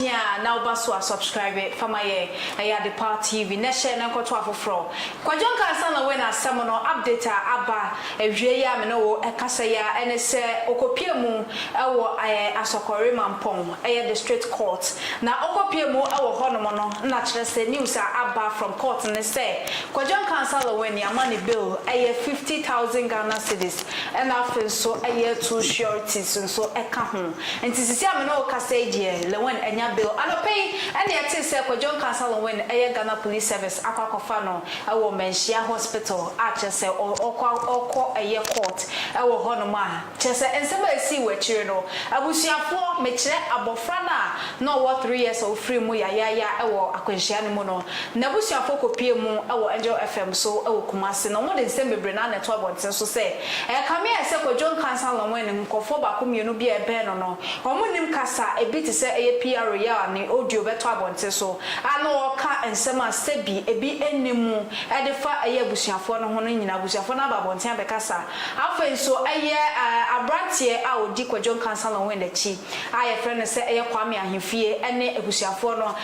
Hia a na woba so a subscribe fa ma yɛn ɛyɛ Adepa TV na hyɛ na nkɔto afoforɔ. Kwadwo Nkansah na wei na asɛm no update a aba awie yi a me ne wo ɛkasa yi ara ɛne sɛ ɔkɔpue mu ɛwɔ ɛɛ Asɔkɔre Mampɔn ɛyɛ district court na ɔkɔpue mu ɛwɔ hɔ nom no na kyerɛ sɛ news a aba from court ne sɛ Kwadwo Nkansah Lewin yama ne bail ɛyɛ fifty thousand Ghana cedis ɛna afei nso ɛyɛ two sureties nso ɛka ho. Nti sisi a me ne wo kasa yi deɛ Lewin anya bail. Anɔpa yi na yɛtee sɛ Kwadwo Nkansah Lewin yɛ Ghana Police Service akɔ akɔfa no wɔ Manhyia Hospital a kyerɛ sɛ ɔkɔ ɔkɔ yɛ court wɔ hɔnom a kyerɛ sɛ nsɛm a ɛsii wɔ akyire no abusuafoɔ mekyerɛ abɔfra no a na ɔwɔ three years a ɔfirii mu yayaaya wɔ akwanhyia no mu no n'abusuafoɔ kɔpuee mu wɔ Angel FM so wɔ Kumasi na wɔde nsɛm bebree na na ɛto abɔnten so sɛ Ɛkame ayɛ sɛ Kojo Nkansah Longwen ne nkurɔfoɔ baako mmienu bi a ɛbɛn no no, wɔn nnim kasa a ebi te sɛ ɛyɛ piaro yɛ a ne audio bɛtɔ abɔnten so a na ɔreka nsɛm a sɛbi ebi nni mu de fa ɛyɛ abusuafoɔ no ho no nyinaa. Abusuafoɔ no aba abɔnten abɛkasa. Afei nso ɛyɛ aberanteɛ a ɔdi Kojo Nkansah Longwen akyi. a yɛfrɛ no sɛ ɛyɛ Kwame Ahemfie ne abusuafoɔ no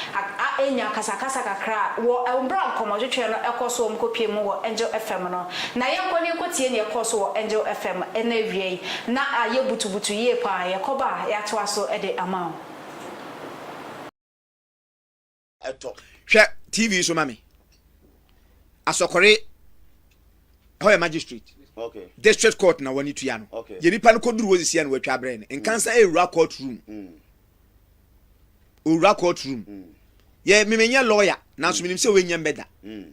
anya akasakasa kakra wɔ berɛ a nkɔmmɔtwetwe no kɔ so a wɔkɔpue mu wɔ Angel FM no. Na yɛnkɔ na yɛnkɔtie nea ɛkɔɔ so wɔ Angel FM no awia yi. Na ayɛ butubutu yie pa ara. Yɛkɔba a, yɛatoa so de ama wo. ɛtɔ. Hwɛ TV so ma me. Asɔkɔre hɔ yɛ magistrate. Okay. District court na wɔne tua no. Okay. Yɛ nipa no kɔduru wɔsisi ɛna wɔatwa abrɛ no. Nkansa mm. ɛwura court room. Mm. Owura court room. Mm. Yɛ memenyɛ lawyer nanso mm. menim sɛ wɔnyɛ mbɛda. Mm.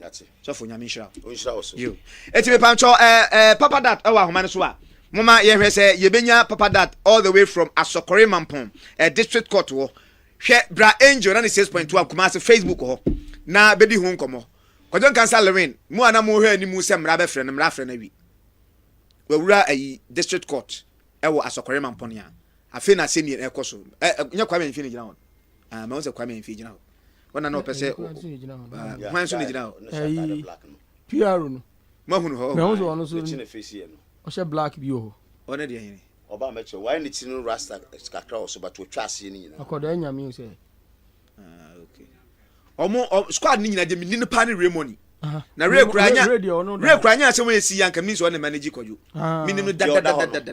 Yate. Sɔfo nyame nhyira wo. Onhyira wo so. Yo. Eti me pancho eh, eh, Papa Dat ɛwɔ ahoma no so a, moma yɛhwɛ sɛ yɛbɛnya Papa Dat all the way from Asɔkɔre Mampɔn eh, District Court hɔ. Hwɛ Bra Angel na ne 6.1 Kumasi Facebook hɔ na bɛdi ho nkɔmmɔ. Kwadwo Nkansa Lewin, mo a na mohwɛ anim sɛ mmara bɛfrɛ no, mmara afrɛ no awi. Wawura ayi District Court ɛwɔ Asɔkɔre Mampɔn a, afei na asɛnnie ɛkɔ so. Eh, eh, nyɛ Kwame Amfi ne gyina hɔ no. Ah, mahu sɛ Kwame Amfi gyina hɔ. ɔna na ɔpɛ sɛ hwan nso na gyina hɔ pr no mahunu hɔ mahu sɛ ɔno so ɔhyɛ black bi wɔ hɔ ɔne deɛ hene ɔba mɛkyɛ wayɛ ne tiri no rasta kakra wɔ so but ɔtwa aseɛ no nyina akɔdaa nyame sɛ ɔmo ah, squad no nyina deɛ menni no paa ne ray money na ray kura nya ray kura nya asɛm yɛ si yɛ anka menim sɛ ɔne manage kɔdwo menim no dadadadada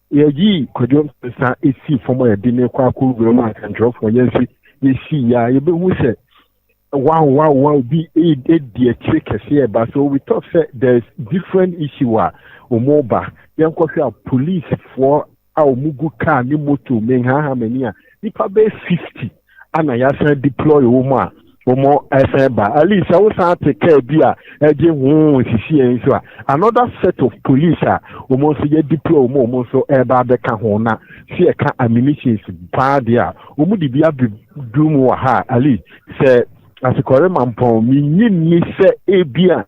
Yɛyii Kwadwo Mensah sii fam a yɛde no rekɔ akɔwura mu a Nsɛntwerɛfoɔ yɛn nso yɛsii yɛ a, yɛbɛhu sɛ wow wow wow bi di akyire kɛseɛ ɛba. So we talk sɛ there is different issue a wɔreba. Yɛnkɔhwɛ a policefoɔ a wɔgu kaa ne moto menhaha m'ani a, nnipa bɛyɛ 50 ana yɛasan deploy wo mu a wɔn ɛsan ba at least sɛ wosan te kaa bi a ɛgye ho nsisi yɛn nso a another set of police a wɔn nso yɛ deploy wɔn wɔn nso ɛreba abɛka ho na sɛ yɛka ammunitions paa deɛ a wɔn de bi abɛduru mu wɔ ha a at least sɛ asekɔre mampɔn menyi nni sɛ ebi a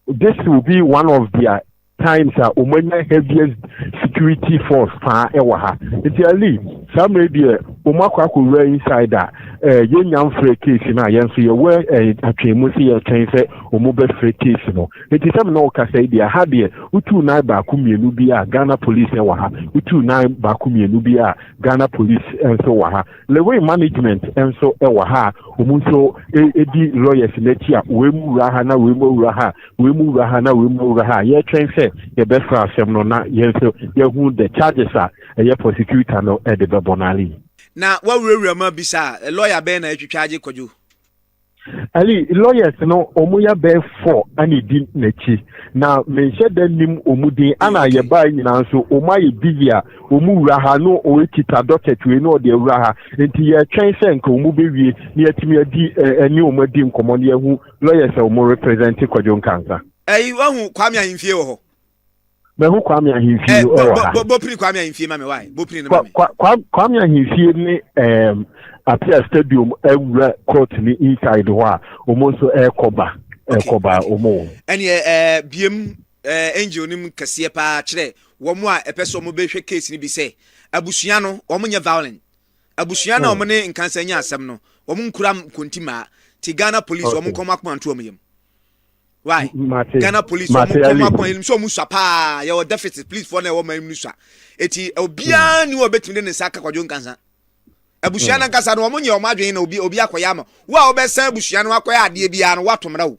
This will be one of their times a wɔn anya heaviest security force paa ɛwɔ ha. Nti Ali, saa mmerɛ deɛ wɔn akɔ akɔwura inside a, eh, yɛn nya mfrɛ case no a, yɛn nso yɛwɔ eh, atwɛn mu sɛ yɛtwɛn sɛ wɔn bɛfrɛ case no. Nti sɛ mena ɔkasa yi deɛ, ha deɛ wotuu nan baako mmienu bi a Ghana police ɛwɔ ha, wotuu nan baako mmienu bi a Ghana police nso wɔ ha. Lewin management nso wɔ ha a wɔn nso di lawyers no akyi a wei mu wura ha na wei mu awura ha wei mu wura ha na wei mu awura ha yɛtwɛn sɛ yɛbɛsra asɛm no na yɛn nso yɛhu the charges a ɛyɛ prosecutor no de bɛbɔ no ale. Na wawurawura mu abisa a, lawyer bɛn na atwitwa agye kwadwo? Ali lawyers no ɔmo yɛ bɛɛ fɔ ɛna edi n'akyi na menhyɛ dɛ nim ɔmo din ɛna mm, yɛ baa nyinaa nso ɔmo ayɛ busy a ɔmo wura ha no ɔkita docket wei na ɔde awura ha nti yɛtwɛn sɛ nka ɔmo bɛwie na yɛatumi adi ɛne ɔmo adi nkɔmɔ na yɛahu lawyers a ɔmo represent kwadwo nkansa. ɛyi wahu kwame ahemfie wɔ hɔ Mahu Kwame Ahemfie eh, wɔ ha. Bopiri Kwame Ahemfie ma me wae. Bopiri no ma me. Kwame Ahemfie ne um, Apia Stadium awura court ne inside hɔ a wɔn nso ɛrekɔba ɛrekɔba wɔn. Ɛneɛ ɛɛ biem ɛɛ angel nim kɛseɛ paa kyerɛ wɔn a ɛpɛ sɛ wɔn bɛhwɛ case no bi sɛ abusua no wɔn nyɛ violent abusua no a hmm. wɔn ne nkansa nyɛ asɛm no wɔn nkura nkonti maa ti Ghana police wɔn nkɔm akoma nto wɔn yam. why mate ghana police wɔn mate nkɔm ali akɔn enim sɛ wɔn sua paa yɛwɔ deficit police foɔ na ɛwɔ man mu no sua eti obiara ni wɔ betumi de ne nsa aka kwadwo nkansa abusua no ankasa no wɔn nyɛ wɔn adwene na obi obi akɔyɛ ama wo a wɔbɛsan abusua no akɔyɛ adeɛ biara no wato mmara o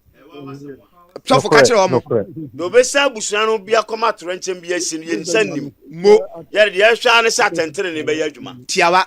sɔfo ka nokorɛ kyerɛ wɔn nokorɛ na obesan abusua no bi akɔma atorɛnkyɛm bi asi no yɛn nsa nnim mo yɛde deɛ ɛhwɛ ara ne sɛ atɛntene ne bɛyɛ adwuma tiawa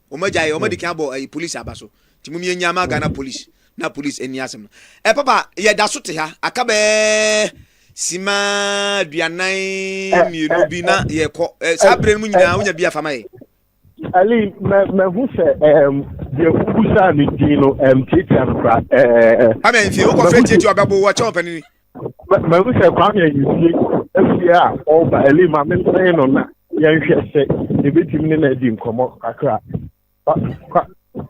wɔn agya yɛ wɔn adi kan abɔ ɛyi polisi aba so ti mu yɛn ama Ghana polisi na polisi ɛni asɛm no ɛ papa yɛ da so te ha aka bɛɛ sima duanan mmienu bi na yɛ kɔ ɛ saa abirɛ no mu nyinaa wonya bi afama yɛ. Ali mɛ mɛ hu sɛ ɛɛm deɛ wubu saa ne din no ɛɛm tiatia no kora ɛɛɛ. Amen fi wokɔ fɛ tiatia ɔbɛbo wɔkyɛn ɔpɛnini. mahu sɛ kwame ayisie afie a ɔba ɛli ma mensɛe no na yɛnhwɛ sɛ yɛbɛtumi ne no adi nkɔmmɔ kakra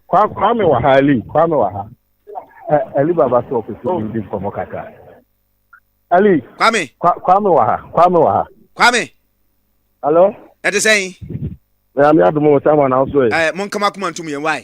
kwame wɔ ha ɛli kwame wɔ ha ɛli baba so ɔpɛ sɛ yɛdi nkɔmmɔ kakra ɛli kwame kwame wɔ ha kwame wɔ ha kwame alo ɛte sɛn ɛyà mi adumu wɔ sáwọn náà sọ yẹ. ẹ mo nkama kuma ntum yẹn wáyé.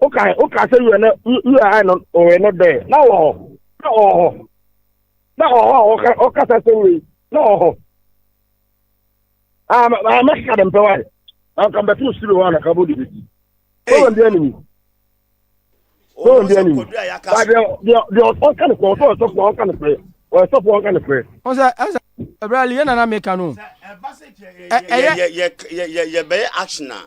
wokae wokaa sɛ wura na wura no ɔwɛ no dɛ na wɔ hɔ na ɔwɔ hɔ na ɔwɔ hɔ a ɔkasa sɛ wei na ɔwɔ hɔ a mɛkeka de mpɛ wae anka mbɛto wo siri hɔ a naka bɔde bɛti problem bi animi problem bi animi deɛ ɔka ne korɛ ɔsɛ ɔsɔfoɔ ɔka ne korɛ ɔsɔfoɔ ɔka ne korɛ ɔsɛ ɛsɛ ɛbrɛ liɛ nana meka no ɛyɛ yɛbɛyɛ action a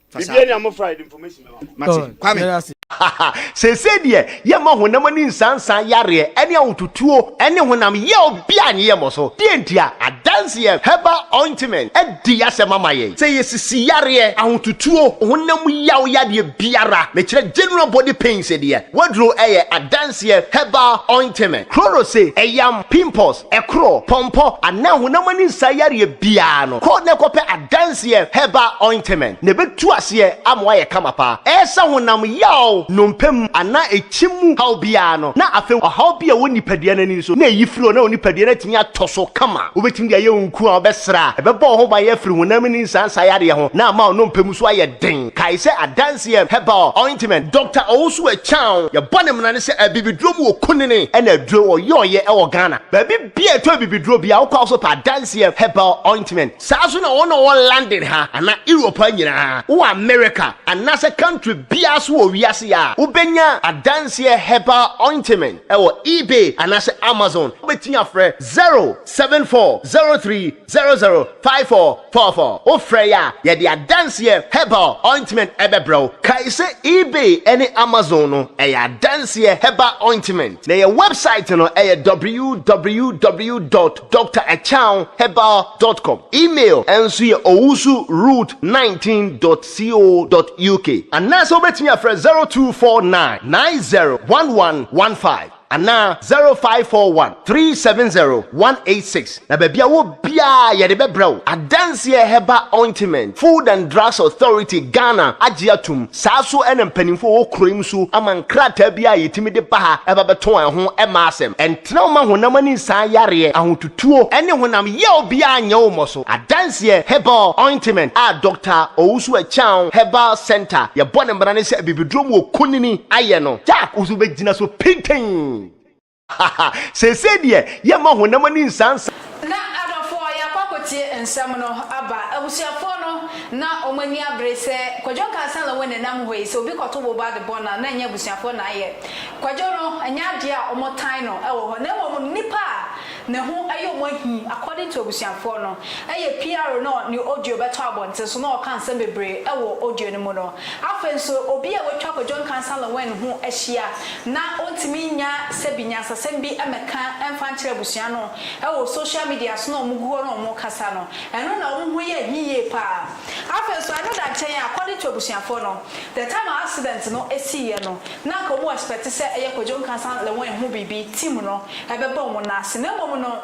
Biribiara ni amofra yɛde information bɛma mo. Mate. Kwame. Haha, seesei deɛ yɛma honam ani nsansa yareɛ ɛne ahotutuo ɛne honam yaw biaa nyɛ yɛmmɔ so. Deɛ nti a, adanseɛ herbal ointment adi y'asɛm ama yɛn. Sɛ yɛsisi yareɛ, ahotutuo, honam yaw yadeɛ biara, mekyerɛ general body pains deɛ, w'aduro ɛyɛ adanseɛ herbal ointment. Chloro se ɛyam, pimples, ɛkoro, pɔmpɔ, anaa honam ani nsa yareɛ biara no, kɔ na kɔpɛ adanseɛ herbal ointment na ɛbɛtu aseɛ ama woayɛ kama paa. Ɛresa honam yaw, nnompe mu anaa ɛkyim mu haw biara no, na afei ɔhaw bi a ɛwɔ nipadua no ani nso, na ɛyi firi hɔ na wo nipadua no atumi atɔ so kama. Wobɛtumi de ayɛ wo nku a wobɛsra a ɛbɛbɔ wo ho ban afiri honam ani nsa nsa yareɛ ho na ama wo nnompe mu nso ayɛ den. Kae sɛ adanse yɛ herbal ointment. Doctor Owusu Akyang, yɛbɔ ne mmara ne sɛ abibiduro mu wɔ kunini ɛna aduro, ɔyɔɔyɛ ɛwɔ Ghana. Baabi biaa ɛtɔ abibiduro biaa wokɔ a wosɔ pɛ adanse yɛ herbal ointment. Saa nso na wɔn a wɔwɔ London ha anaa Europe ha nyinaa, wowɔ America anaasɛ country biaa so wɔ wiase a, wobɛnya adanse yɛ herbal ointment ɛwɔ ebay anaasɛ Amazon. Wobɛtumi afrɛ 074030. Zero zero five four four four Wofrɛ yɛ a, yɛde adanseɛ herbal ointment bɛbrɛ wo. Kae sɛ eBay ne Amazon no yɛ adanseɛ herbal ointment, na yɛn wɛbsaet no yɛ www dot Doctor Akyang Herbal dot com. Email nso yɛ owusu root nineteen dot co dot uk. Anaasɛ wobɛtumi afrɛ zero two four nine nine zero one one one five. anaa 0541 370 186 na baabi a wɔ biara yɛde bɛbrɛ wo adanseɛ Herbal Ointment Food and Drugs Authority Ghana agye atom saa so na mpanimfoɔ a wɔ kuro yi mu so ama nkrataa bi a yɛtumi de ba ha ɛba bɛtɔn a ɛho mma asɛm ɛntena wo ma honam ani nsaa yareɛ ahotutuo ne honam yaw biara nyɛ wo mmɔ so. Adanseɛ, Herbal ointment a Dɔkta Owusu Acheaw Herbal Centre yɛbɔ no mmara ne sɛ abibiduro mu wɔ kunini ayɛ no. Jack wo nso bɛgyina so pintinn ha ha. Seesei deɛ yɛmma honam ani nsansa. Na adɔfoɔ yɛakɔ akɔtie nsɛm no aba abusuafoɔ no na wɔn ani abere sɛ Kwadwo nkaa sɛ Lawon ɛnam hɔ yi sɛ obi kɔto boba de bɔ no a na ɛnyɛ abusuafoɔ na ayɛ Kwadwo no ɛnyɛ adeɛ a wɔtan no wɔ hɔ na mmom nnipa a Ne ho yɛ wɔn ahi according to abusuafoɔ no yɛ PRO no ne audio bɛtɔ abɔnten so na ɔka nsɛm bebree wɔ audio no mu no. Afei nso obi a watwa kɔ John Cansah Lewin ho ahyia na ɔntumi nnya sɛbi nyansasɛm bi mmɛka mfa nkyerɛ abusua no wɔ social media so na wɔn gu hɔ na wɔn kasa no ɛno na wɔn ho yɛ ahi yie paa. Afei nso ɛno da nkyɛn a according to abusuafoɔ no the time a accident no siiɛ no na anka wɔn expect sɛ ɛyɛ Kojo Nkansah le wɔn ho biribi, team no, ɛbɛbɔ wɔn nan ase. Na mmom no,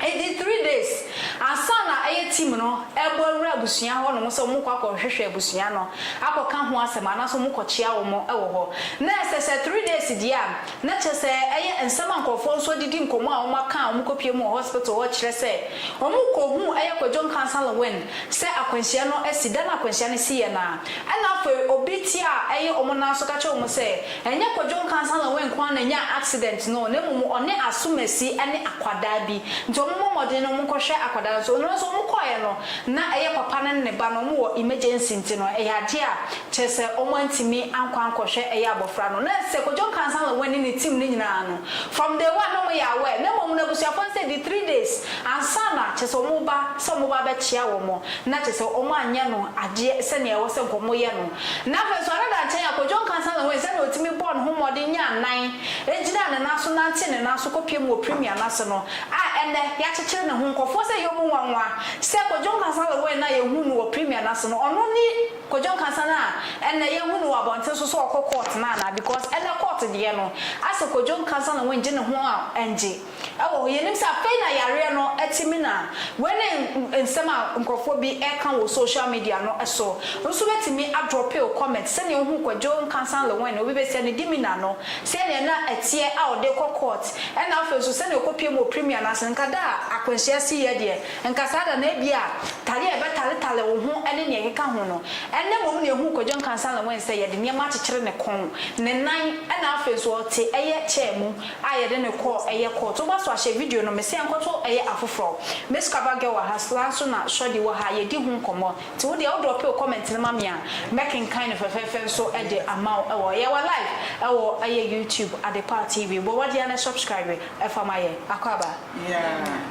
ɛdi three days ansa na ɛyɛ team no ɛrebɔ awura abusua hɔ nom sɛ wɔn rekɔ akɔ hwehwɛ abusua no, akɔ ka ho asɛm anaasɛ wɔn kɔ kyia wɔn wɔ hɔ. Na ɛsɛ sɛ three days deɛ a, na kyerɛ sɛ ɛyɛ nsɛm a nkorɔfoɔ nso adidi nkɔmmɔ a wɔn aka a wɔn kɔ pie mu wɔ hospital hɔ kyerɛ sɛ wɔn rekɔ hu ɛyɛ Kojo Nkansah le wɔn sɛ akwanhyia no asi. Da no a akwanhyia no si yɛ no a, Ɛna afei obi te a ɛye ɔmo nan so kakyere ɔmo sɛ, Ɛnyɛ Kwadwo Nkansah-Laway nkoaa na nyaa accident no o, na mmom ɔne Asumasi ɛne akwadaa bi. Nti ɔmo mmɔ mmɔden na ɔmo nkɔ hwɛ akwadaa no nso. Nnora nso ɔmo kɔɔɛ no, na ɛyɛ papa no ne ne ba no ɔmo wɔ emergency nti no ɛyɛ adeɛ a kyerɛ sɛ ɔmo antumi ankɔ ankɔ hwɛ ɛyɛ abɔfra no. Na ɛsɛ Kwadwo Nkansah-Laway ne ne team no nyinaa no, from day one na ɔmo yɛ aware, na mmom no abusuafoɔ no sɛ di three days ansa na kyerɛ sɛ ɔmo ba, sɛ ɔmo ba abɛkyea wɔn. na kyerɛ sɛ wɔanyɛ no adeɛ sɛdeɛ ɛwɔ sɛ nka wɔyɛ no, na afei nso another nkyɛn a Kojo Nkansah na wohui sɛdeɛ ɔtumi bɔɔ ne ho mmɔden nyaa nan gyinaa ne nan so nantee ne nan so kɔpiam wɔ Premier no ase no a ɛnnɛ yɛakyekyere ne ho nkurɔfoɔ sɛ ɛyɛ wɔn nwanwa sɛ Kojo Nkansah Lawrence no a yɛhuu no wɔ Premier no ase no ɔno ne Kojo Nkansah no a ɛnnɛ yɛhu no wɔ abɔnten so sɛ ɔkɔ court no anaa because ɛnnɛ court deɛ no asɛ Kojo Nkansah Lawrence gye ne ho a ɛngye Ɛwɔ hɔ, yɛnim sɛ afei na yareɛ no te me na wei ne nsɛm a nkorɔfoɔ bi ɛka wɔ social media no so. Nso wobɛtumi a drope wo comment sɛdeɛ wohuu Kwadwo Nkansah Lewin obi bɛsia ne dimina no sɛdeɛ na ɛteɛ a ɔde rekɔ court ɛna afei nso sɛdeɛ ɔkɔ pie mu wɔ premier no ase no. Nka da a akwanhyia siiɛ deɛ nka saa da no ebia tare a ɛbɛtaretare wo ho ne deɛ ɛkeka ho no ɛnna mmom na yɛhuu Kwadwo Nkansah Lewin sɛ yɛde nneɛma akyekyere ne kɔn, ne nan ɛna afei nso ɔte ɛyɛ chair mu. a yɛde no kɔɔ ɛyɛ court woba so ahyɛ video no mese ɛnkɔto ɛyɛ afoforɔ miss cover girl wɔ ha sla nso na shordy wɔ ha yɛdi ho nkɔmmɔ nti wo deɛ wo drop wo comment no ma me a mɛkenkan no fɛfɛɛfɛ nso de ama wo ɛwɔ yɛ wɔ live ɛwɔ ɛyɛ youtube adepa tv bɔ mmɔden ara na subscribe fa ma yɛn akɔ aba.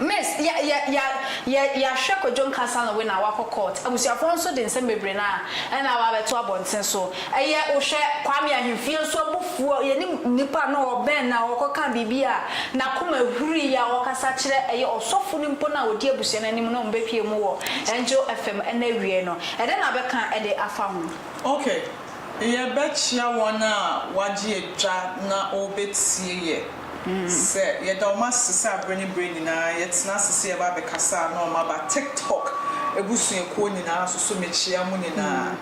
Miss ya ya ya ya yahwɛ kwadwo nka salon wei na wakɔ court abusuafoɔ nso de nsɛm bebree na ɛna aba abɛto abɔnten so ɛyɛ wohwɛ kwame ahemfie nso abufuo yɛne nipa na ɔbɛn na ɔkɔ ka biribi a nakoma ahuri yɛ a ɔkasa kyerɛ ɛyɛ ɔsɔfo no mpo na ɔdi abusua no anim na ɔmo bɛpie mu wɔ angel fm ɛna awiei no ɛdɛ na bɛka ɛde afa ho. Okay yɛbɛkyea wɔn a wɔagye adwa na wɔrebetie yɛ sɛ yɛda wɔn ase sɛ bere ne bere nyinaa yɛtena ase sɛ yɛba abɛkasa na wɔaba TikTok abusuakuo nyinaa so. So mekyea mo nyinaa?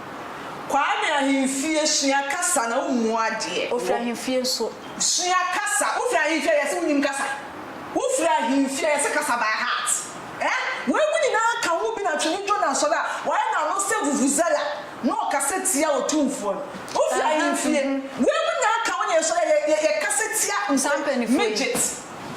Kwame ahemfie sua kasa na wommu adeɛ. Ofiri ahemfie nso. Sua kasa. Wofiri ahemfie a yɛse wonim kasa. Wofiri ahemfie a yɛse kasa by heart. Eh? Weinom nyinaa ka ho bi na Twene Jonah Asɔre a wayɛ n'ano sɛ vuvuzela Na ɔkasa tia Otumfoɔ no. Wofi ahemfie. Wei mo nyinaa ka ho na yɛsɔre a yɛ yɛ kasa tia Saa mpanyinfoɔ yi. midget.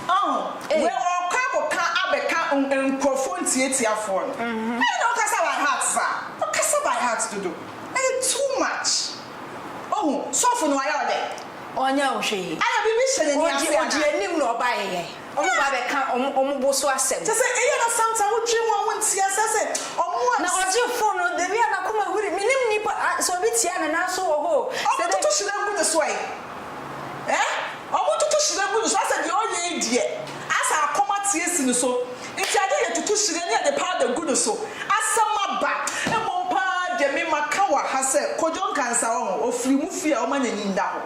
Ɔho? Ei. Wei ɔɔkɔ akɔka abɛka n nkorɔfoɔ ntiatiafoɔ no. Ɛyɛ na wokasa by heart saa? Wokasa by heart dodo. Ɛyɛ too much. Ohu? Sɔfo no wayɛ wo dɛn? Ɔnyɛ wo hwee. Ayɛ biribi hyɛ n'ani Ɔgye ase ɔgye anaa? anim na ɔbaeɛ. Wɔba bɛka wɔn bo so asɛm. Kyerɛ sɛ, ɛyɛ na sometimes wodwen wɔn a wonte aseɛ sɛ wɔn a. Na ɔgye phone no, dabi a n'akoma huri, mennim nnipa a, sɛ obi tia no nan so wɔ hɔ o, sɛ dɛn. Wɔtoto hyena gu ne so ɛ. Ɛɛ, wɔtoto hyena gu ne so, asɛ deɛ ɔyɛ yi deɛ, asɛ akɔm ate asi ne so, nti agye yɛtoto hyena ne yɛde powder gu ne so. Asɛm aba. Mmom pa ara deɛ me maka wɔ ha sɛ, Kojo Nkansah, wɔho, ɔfiri mo fie a wɔma n'ani nda hɔ.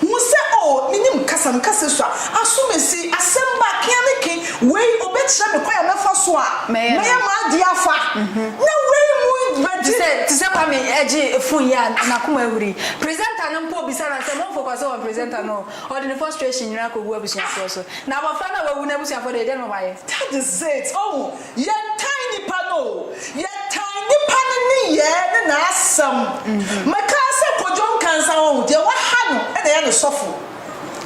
Hu sɛ, Oh, minim kasa, me kasa sua, aso mesi, asɛm ba, kea ne ke, wei, obekyerɛ me kwan a mɛfa so a, mɛyɛ m'ade afa, na wei mu bɛgye. Te sɛ, te sɛ Kwame gye fon yi a, n'akoma ahuri. Presenter no mpo bisa no asɛm, ɔnfokɔse wɔ presenter no ho, ɔde ne frustration nyinaa kogu abusuafoɔ so. Na abɔfra no a wawu no abusuafoɔ deɛ, deɛn na wɔayɛ? That is it, oh. Yɛtan nnipa no o, yɛtan nnipa no nneyɛɛ ne n'asɛm. Mekaa sɛ Kojo nka nsa wahu, deɛ waha no na ɛyɛ ne sɔfo.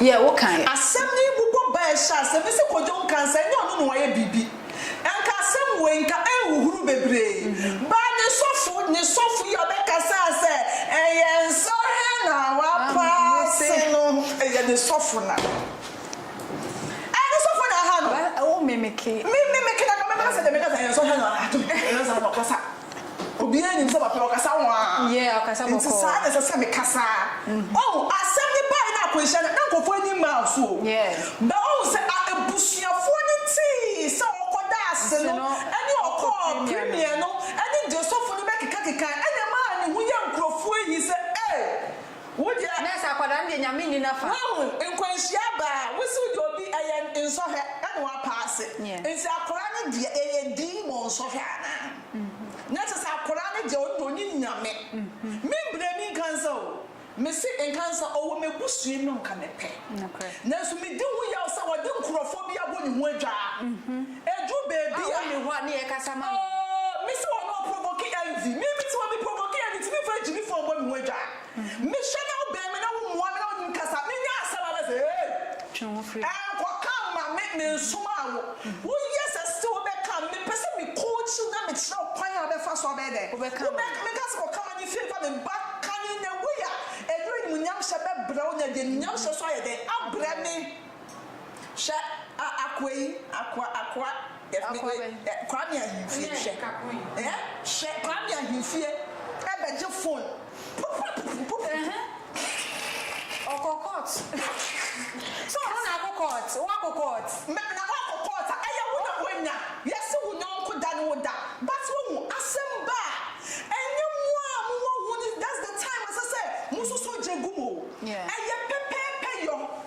Yɛ wo kaeɛ. Asɛm yi bobɔ ba ɛhyɛ aseɛ, mese Kojo nka nsa, ɛnyɛ ɔno na wayɛ biribi. Nka asɛm wei nka ɛnhuhuru bebree ba ne sɔfo, ne sɔfo yi a ɔbɛkasa sɛ ɛyɛ nsa he na wapaa se no, ɛyɛ ne sɔfo na. Ɛyɛ ne sofo na aha no. Well wo mimiki. Me mimiki na kame kasa dɛm kasa yɛn so hɛ no ato me yɛn sa na ɔkasa obiara nim sɛ papa ɔkasa waa yeah ɔkasa bɔkɔɔ nti saa na ɛsɛ sɛ me kasa oh asɛm ne bae na akwanhyia no na nkɔfoɔ ani mmaa wo so o yeah but ohu sɛ a abusuafoɔ no tii sɛ ɔkɔ daase no ɛne ɔkɔɔ premier no ɛne deɛ sofo no bɛkeka kekae ɛna ɛmaa ne ho yɛ nkurɔfoɔ ahi sɛ eh. Wo deɛ. Nurse akwadaa no deɛ nyame nni nafa. Wahu nkwanhyia aba a wosi wode obi ɛyɛ nsɔhwɛ ɛna wapaase nti akwadaa no deɛ ɛyɛ dii bɔ nsɔhwɛ anaa na kyɛsɛ akwadaa no deɛ ɔno deɛ ɔnim nyame membrɛ me nkansa o mese nkansa ɔwɔ mɛbusuam no nka mepɛ nanso medi ho yaw sɛ ɔde nkorɔfoɔ bi abɔ ne ho adwaa. Ɛduru baabi a. Ɔnni hɔ a ne yɛ kasa ma no. Oh me sɛ ɔno ɔprovoke Andy me me te hɔ me provoke Andy nti me frɛ Jimmy phone bɔ me ho adwa me hwɛ na wo bɛn me na wo mua me na ɔnim kasa me nya asɛm a na sɛ hey ɛnkɔ ka mma me me nsomaa wo wo yɛ sɛ still wo bɛ ka me pɛ sɛ me coach wo na me kyerɛ wo kwan a wo bɛ fa so a bɛyɛ dɛn wo bɛ ka me ka sɛ kɔ ka ma ne fie fa me ba ka ne in a way a ɛno animuonyam hyɛ bɛ brɛ wo na deɛ animuonyam hyɛ so ayɛ dɛn abrɛ me. Hwɛ a akoa yi akoa akoa Akoa bɛn? Kwame Ahimfie hwɛ ɛɛ hwɛ Kwame Ahimfie ɛbɛgye fon pupupupupupupu Ɔkɔ court So ɔno na akɔ court Woakɔ court? Me na woakɔ court a ɛyɛ wo na woanya Yɛse wo yɔnko da ne wo da But woahu asɛm ba a ɛnyɛ mo a mowɔ ho no That's the time ɛsɛ sɛ mososo gye gu mu o Ɛyɛ pɛpɛɛpɛ yɔ.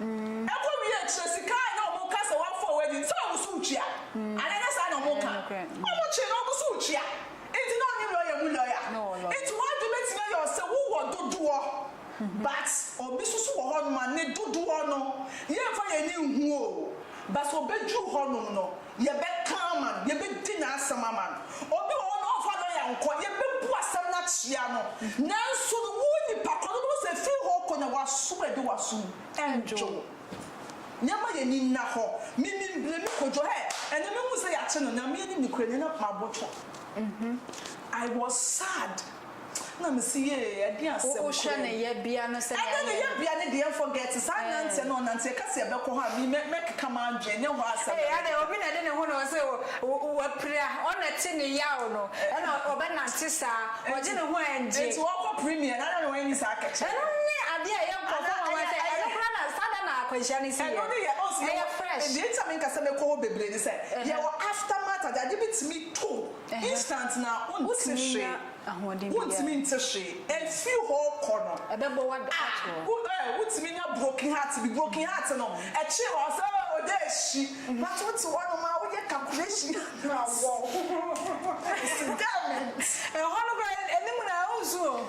Mm. Ɛkɔ wie a kyerɛ sika a na wɔn ka sɛ wɔn afɔw adi nti wɔn so retua. Anaa ɛnyɛ saa na wɔn ka? Wɔn kye na wɔn so retua. Nti na ɔne lɔya mu lɔya. Nti w'adwene betumi ayɛ wo sɛ wo wɔ dodoɔ but obi nso so wɔ hɔ nom a ne dodoɔ no yɛn nfa yɛn ani nhu o but obeduru hɔ nom no Yɛbɛka ama no, yɛbɛdi n'asɛm ama no. Obi wɔ hɔ no, ɔmfa lɔya nkɔ, yɛbɛbu asɛm no akyea no. Nanso no, wo nipa korɔ no, wobɛhu sɛ firi hɔ kɔ na w'asom a ɛde w'asom nnwo wo. Yɛmma yɛn ani nna hɔ. Me, me mbrɛ me kɔdwo hɛ, ɛnnɛ mehu sɛ yɛakye no, na me anim no kura nyɛ na m'abotwo. I was sad. na me se yee ɛdeɛn asɛm kura mu. Wo hwɛ ne yɛbea no sɛnea ayɛ no. Ɛdeɛn ne yɛbea ne deɛn forget saa nanteɛ no ɔnante yɛka se yɛbɛkɔ hɔ a me mɛ mɛ keka m'adwene ɛnyɛ hɔ asɛm na me keka. Ee adɛn obi na ɛde ne ho na ɔse o wapira ɔna ɛte ne yaw no ɛna ɔbɛ nante saa ɔgye ne ho ɛngye. Nti ɔkɔ premier no adɛn na wanyi saa kɛkyɛ no. Ɛno ne adeɛ a ɛyɛ nkurɔfoɔ nwanwa sɛ ɛno koraa na saa da na akwanhyia no si yɛ no ɛyɛ fresh. Deɛ nti a me nka sɛ mɛkɔ hɔ bebree ne sɛ yɛwɔ aftermath ade ade betumi to. Instant na wonte hwee, wontumi nte hwee, and firi hɔ kɔ no ah eh wotumi nya broken heart bi, broken heart no ɛkyere wa sɛ oh ɔda ɛhyi but wote hɔ nom a woyɛ calculation na awɔw, ɛsi dɛmɛnt. Ɛhɔ no koraa anim na ɛwɔ nso o.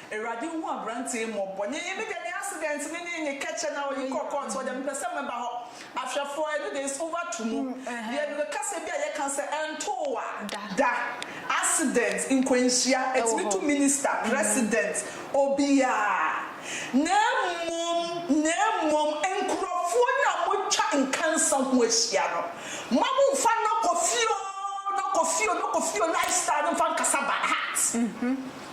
Awurade nhu aberanteɛ yi mmɔbɔ. Nyɛ yɛ mede ne accident ne ne ne kɛkyɛ na ɔde kɔ court hɔ deɛ mepɛ sɛ mɛba hɔ. Ahwɛfoɔ ɛno deɛ it's over to mu. Deɛ mede kasa bi a yɛka sɛ ɛntoo wa da. Accident, nkwanhyia, ɛtumi to minister, president, obiaa. Na mmom, na mmom nkurɔfoɔ no a motwa nkansa ho ahyia no, mma mo mfa no kɔ fie oo, no kɔ fie oo, no kɔ fie oo lifestyle no mfa nkasa by heart.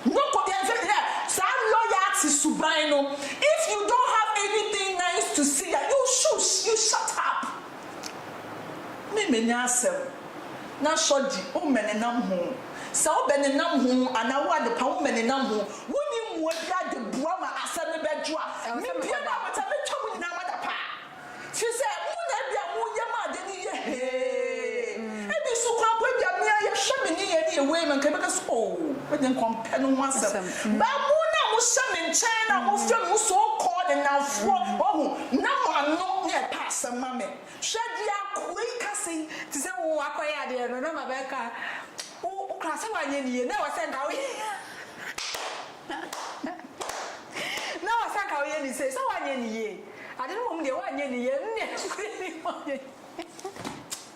No kɔ deɛ sɛ hwɛ saa loyalty suban no if you don't have anything nice to say a you shush you shut up me me nya asɛm na sɔgye wo mmɛ ne nam ho sɛ wo bɛ ne nam ho anaa wo adepa wo mmɛ ne nam ho wo nyi mmoa biara de boa ma asɛm no bɛ dwo a me bie no a me ta me twa mo nyinaa mo adapaa. Fi sɛ mo na ebia mo yɛ ma ade no yɛ hee. Ebi nso koraa mpo ebia me ara yɛ hwɛ me ne yɛ ne yɛ wei no nka bɛka sɛ oh me de nka ɔmpɛ no ho asɛm. Ba mo na mo hyɛ me nkyɛn na mo frɛ me mo so called nnamfoɔ wahu na mo ano na ɛpɛ asɛm ma me. Hwɛ deɛ akoa yi ka sɛi. Te sɛ wo akɔ yɛ adeɛ no na ma bɛka wo koraa sɛ wanyɛ ne yie na ɛwɔ sɛ nka wo yɛ na ɛwɔ sɛ nka wo yɛ ne sei sɛ wanyɛ ne yie. Ade no mmom deɛ woanyɛ ni yɛ nne ase ni wɔnyɛ.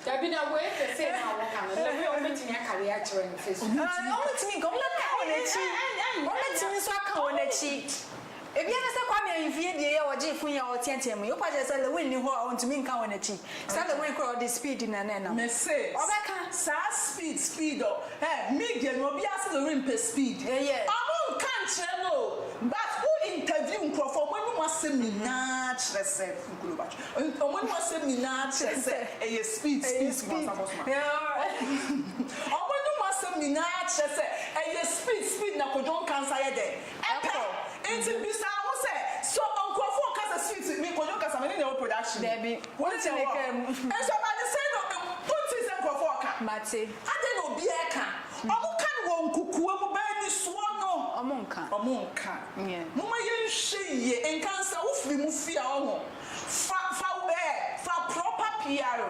Dabi na wei te sɛ na wɔn ka no na wei wɔn bɛtumi aka wei akyerɛ no fɛ so. Wɔn bɛtumi nka wɔn bɛka wɔn akyi wɔn bɛtumi nso aka wɔn akyi. Ebi aka sɛ Kwame Ahimfie deɛ yɛ ɔgye fun yi a ɔteatea mu yi wopa kyerɛ sɛ Lewin ni hɔ a ɔntumi nka wɔn akyi. Sɛ the wind kura ɔde speed na na ɛnam. Me se ɔbɛka. Saa speed speed ɔ hɛ media no obiaa se the wind pɛ speed Ɛyɛ. ɔmo nka nkyerɛ no o but wo interview nkorɔfoɔ ɔmo anim asɛm nyinaa kyerɛ sɛ nkolo ba twe ɔ ɔmo anim asɛm nyinaa kyerɛ sɛ ɛyɛ speed Ɛyɛ speed speed bɔnsam bɔsoma ɔmo anim asɛm nyinaa kyerɛ sɛ ɛyɛ speed speed na kwadwo nkansa yɛ dɛn Ɛkɔ. Nti bisa ho sɛ, So nkurɔfo rekasa suit ne nkɔdwo nkasa me ne nea ɛwɔ production mu? Dabi. Wo ne nea ɛwɔ hɔ. Nso ɛba no sɛn no wontee sɛ nkurɔfo reka? Mate. Adɛn na obiara reka? Wɔka no wɔ nkokoa mu, baa ni soɔ no. Wɔnka. Wɔnka. Yeah. Momma yɛnhwɛ yie. Nka nsa. Wofiri mu fi a, woahu. Fa, fa wo, eh, fa proper PR.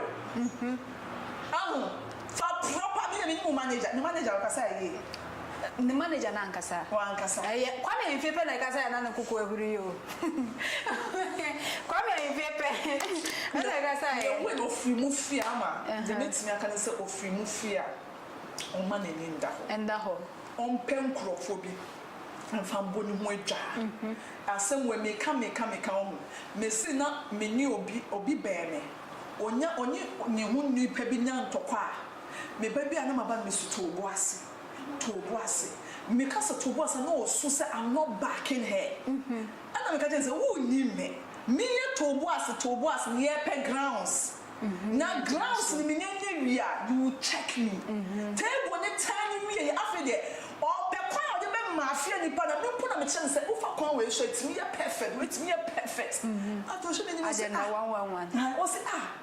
Ahu? Fa proper, me na menim wo manager. Me manager ɔkasa yie. ne manager no ankasa. Wankasa. Ɛyɛ Kwame Ahimfie pɛ na ɛka sɛ na ne koko ahuri o. Kwame Ahimfie pɛ ɛna ɛka sɛ. Yɛ wei na ofiri mu fie ama. Deɛ mɛtumi aka ne sɛ ofiri mu fie a ɔmma n'ani nda hɔ. Nda hɔ. Ɔmpɛ nkorɔfoɔ bi mfa mbɔ ne ho adwa. Asɛm wei meka meka meka wohu. Mese na mene obi, obi bɛn me. Ɔnya, ɔne ne ho nipa bi nya ntɔkwa a. Me ba bi a na maba no misu too bo ase, too bo ase. Me ka sɛ too bo ase a na ɔsu sɛ I'm not backing her. Ɛna me ka kyerɛ no sɛ wonnim me. Me yɛ too bo ase, too bo ase no yɛpɛ grounds. Na grounds no menya nya wie a you will check me. Table no tan no wieɛ afei deɛ ɔpɛ kwan a ɔde bɛma afeɛ nnipa no a me mpo na mekyerɛ no sɛ wofa kwan wei so a ɛtumi yɛ perfect wei tumi yɛ perfect. Afei ɔhwɛ m'anim ɔse ah, ɔse ah.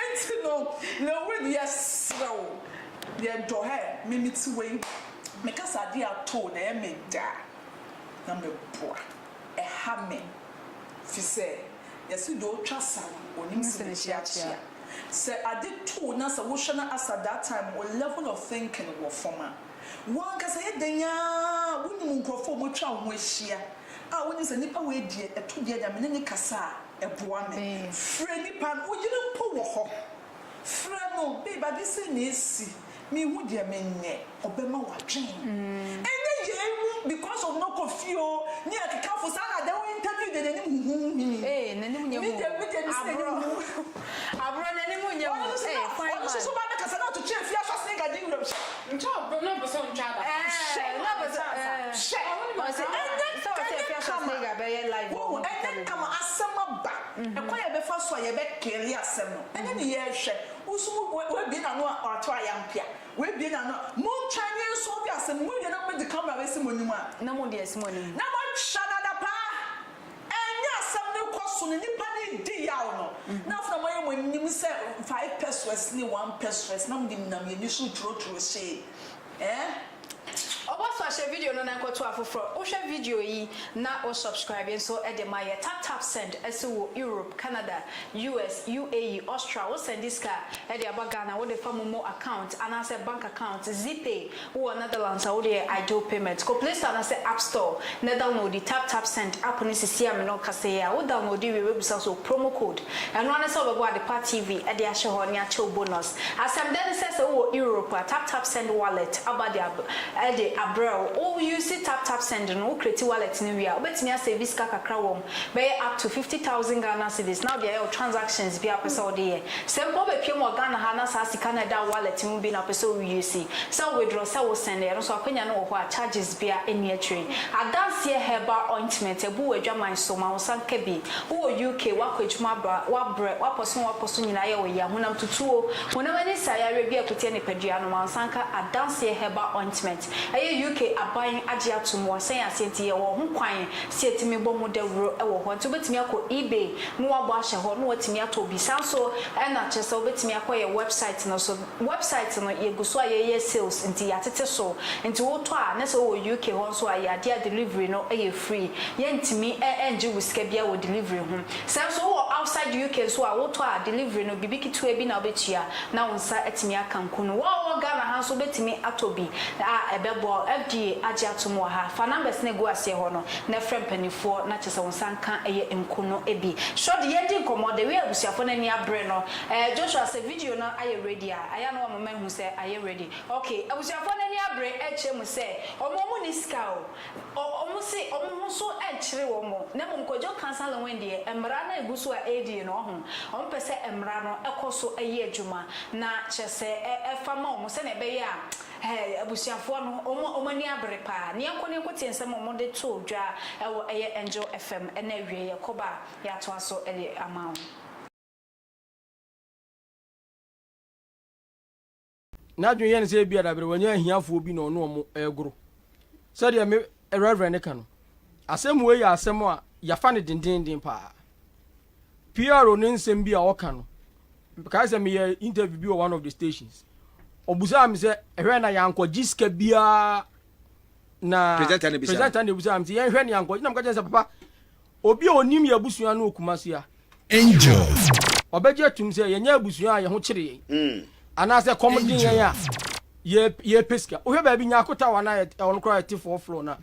Enti no, Lewid, yɛsrɛ wo, yɛdɔ hɛ, me mete wei, mekasa adeɛ ato wo na ɛyɛ me dɛ a, na meboa. Ɛha me, firi sɛ yɛse deɛ ɔtwa sa no, ɔnim se ne kyeakyea. Sɛ ade to wo na sɛ wohwɛ no as at that time wo level of thinking wɔ fam a, wo ankasa yɛ dɛn ara a wonim nkurɔfoɔ a wɔatwa wo ho ahyia. a wonye sɛ nipa wei deɛ ɛto deɛ deɛ me ne no kasa a ɛboa me. Frɛ nipa no, wo yere mpo wɔ hɔ, frɛ no, babe ade sei na ɛsi, menhu deɛ menyɛ, ɔbɛma w'adwene ɛnyɛ yei ho because of no kɔ fie oo ne akekafo saa na deɛ wo interview deɛ n'anim huhuu hii. Ee n'anim nyɛ hu oo, aborɔ, aborɔ n'anim nyɛ hu, ee fine man. Ɔno nso so baa bɛkasa na ɔtwetwee fie ahyɛse nkagye wuram hyɛ. Ntwa ɔbo na ɔbosɛ ɔntwa aba. Hyɛ ɛyɛ ma ne chance a. Hwɛ ɔse ɛnyɛ ɛnyɛ kama wohu ɛnyɛ kama asɛm aba ɛkwan a yɛbɛfa so a yɛbɛ cleare asɛm no ɛno ne yɛrehwɛ wo nso w'abie n'ano a ɔato ayampia w'abie n'ano a montwa ne nsolve asɛm no mowie na mobɛde camera bɛsi mo anim a na moatwa no adapaa. Ɛnyɛ asɛm no kɔ so no nnipa no redi yaw no, na afei na moayɛ mo anim sɛ five pesewas ne one pesewas na mode nam yɛn ani so tworotworo hyee. Ɛɛ? Ɔbɔ so ahyɛ video no nan kɔto afoforɔ wo hwɛ video yi na wo subscribe nso de ma yɛ tap tap send ɛse wo Europe Canada US UAE Austral wo sɛnde sika de aba Ghana wo de fa momo account anaasɛ bank account zipay Wowɔ Netherlands a wode yɛ Ideal Payment, kɔ Play Store anaasɛ App Store na downloadi Tap Tap Send app no sesie a me ne wo kasa yi a. Wo downloadi wie wobɛbisa wo sɛ wo promo code. Ɛno ara ne sɛ wobɛbɔ Adepa TV de ahyɛ hɔ ne akyɛ wo bonus. Asɛmdɛ ne sɛ, sɛ wowɔ Europe a, Tap Tap Send wallet aba de ab de abrɛ wo. Wo use Tap Tap Send no, wo creati wallet no wie a, wobɛtumi asɛɛvi sika kakra wɔ bɛyɛ up to fifty thousand Ghana cedis na wode ayɛ wo transactions biara a wopɛ sɛ wode yɛ. Sɛ mpo wobɛpiem wɔ Ghana ha na saa sika no a ɛda wo wallet mu bi na wopɛ sɛ wo use, sɛ wo withdraw, sɛ wo send, ɛno nso akwanya no wɔ hɔ a charges biara nni akyire. Adanseɛ herbal ointment abu w'adwaman so, ma wo nsa nka bi. Wowɔ UK, woakɔ adwuma aba, woabrɛ, woapɔ so na woapɔ so nyinaa yɛ wo ya, honam tutuo, honam ani nsaeyareɛ bi a ɛko tia nipadua no, ma wo nsa nka Adanseɛ herbal ointment. Ɛyɛ UK aban agye atom wɔ sɛn ase nti yɛwɔ ho kwan sɛ yɛtumi bɔ ho dawuro wɔ hɔ nti wobɛtumi akɔ ebay ne wabɔ ahyɛ hɔ ne watumi atɔ bi saa nso ɛna kyerɛ sɛ wobɛtumi akɔ yɛ website no so website no yɛgu so a yɛyɛ sales nti yɛatete so nti wotɔ a ne sɛ wowɔ UK hɔ nso a ɛyɛ adeɛ a delivery no yɛ free yɛntumi ɛngye wo sika biara wɔ delivery ho sɛ nso wowɔ outside UK nso a wotɔ a delivery no biribi ketewa bi na wobɛtua na wo nsa atumi aka nku no. Wo a wowɔ Ghana ha nso wobɛtumi atɔ bi a ɛbɛboa wo. FDA agye atom wɔ ha. Fa numbers no a ɛgu aseɛ hɔ no na frɛ mpanimfoɔ na kyerɛ sɛ wo nsa nka ɛyɛ nku no bi. Sɔ de yɛredi nkɔmmɔ, the way abusuafoɔ no ani abere no. Ɛɛ Joshua sɛ video no ayɛ ready a, ɛyɛ a na wama mahu sɛ ayɛ ready. Okay, abusuafoɔ no ani abere ɛrekyerɛ mu sɛ wɔn wɔn nni sika o. Wɔse wɔn ho so nkyere wɔn na mmom Kojo Cancer Lewin deɛ mmara no a ɛgu so a ɛredie no ɔho wɔn pɛ sɛ mmara no kɔ so yɛ adwuma na kyerɛ sɛ ɛfa ma wɔn sɛdeɛ ɛbɛyɛ a ɛɛ abusuafoɔ no wɔn ani abere paa. Ne yɛnkɔ ne yɛnkɔ tie nsɛm a wɔde too dwa wɔ ɛyɛ Angel FM na awieɛ yɛkɔba a yɛatoa so de ama wo. N'adwene yɛ no sɛ ebia dabere wɔnyɛ ahiafoɔ bi na ɔne wɔn regoro. Sɛdeɛ me Reverend no ka no, asɛm wei yɛ asɛm a yɛafa no dendeenden pa ara. Piero ne nsɛm bi a ɔka no, mekae sɛ meyɛ interview bi wɔ one of the stations. Ɔbusaa me sɛ, ɛhwɛ na yɛankɔgye sika biara na presenter na ebusaa me sɛ yɛnhwɛ ne yɛankɔgye na meka kyerɛ sɛ papa Obi a onim yɛn abusua no wɔ Kumasi ha. Angel. Ɔbɛgye atum sɛ yɛnyɛ abusua a yɛn ho kyere yɛn. Hmm. Anaasɛ kɔm de yɛn a yɛpɛ sika. Wohwɛ baabi Nyako Tower no a ɛwɔ no koraa yɛte four floor na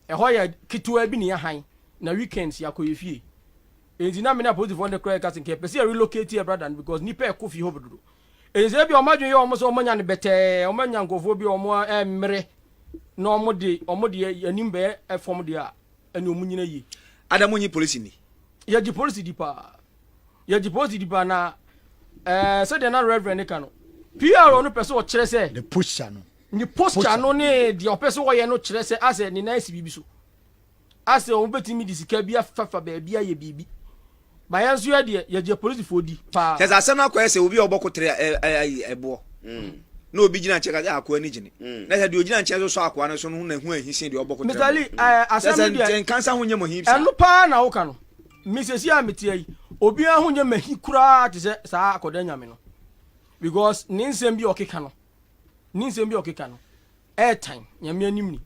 ɛhɔ yɛ ketewaa bi na yɛ han na weekends yɛakɔ yɛ fie. Enti na me ne apolisifoɔ no koraa yɛka sɛ nka yɛpɛ sɛ yɛ relocate yɛ brada no because nnipa ɛkɔ fie hɔ dodo. Enti sɛ ebi a wɔn adwene yɛ wɔn sɛ wɔn anya no bɛtɛɛ wɔn anya nkurɔfoɔ bi a wɔn mmere na wɔn de wɔn de anim bɛyɛ fam deɛ a ɛne ɔmo nyina yie. Ada mo nyi polisi ni. Yɛgye polisi di paa yɛgye polisi di paa na ɛɛ eh, sɛdeɛ na reverend ne ka no PR no pɛ sɛ ɔkyerɛ sɛ ne posture no ne posture no ne deɛ ɔpɛ sɛ ɔyɛ no kyerɛ sɛ asɛ ne nan si biribi so asɛ wɔn bɛtumi de sika bi afafa baabi ayɛ biribi Ba yɛn nso yɛ deɛ yɛgye polisifoɔ di paa. Kyɛsɛ asɛm no akɔyɛ sɛ obi a ɔbɔ kotere ayi ɛboɔ na obi gyina nkyɛn kasa akoa ni gyene na sɛ deɛ ogyina nkyɛn so sɔ akoa no so no ho na ho ahi sen deɛ ɔbɔ kotere Mister Lee ɛɛ asɛm no deɛ nkansa ho nyɛ mo hip saa ɛno paa na woka no me sɛsi a meteɛ yi obiara ho nyɛ mahi koraa te sɛ saa akɔda nyame no because ne nsɛm bi ɔkeka no ne nsɛm bi ɔkeka no ɛɛtan nyame anim ni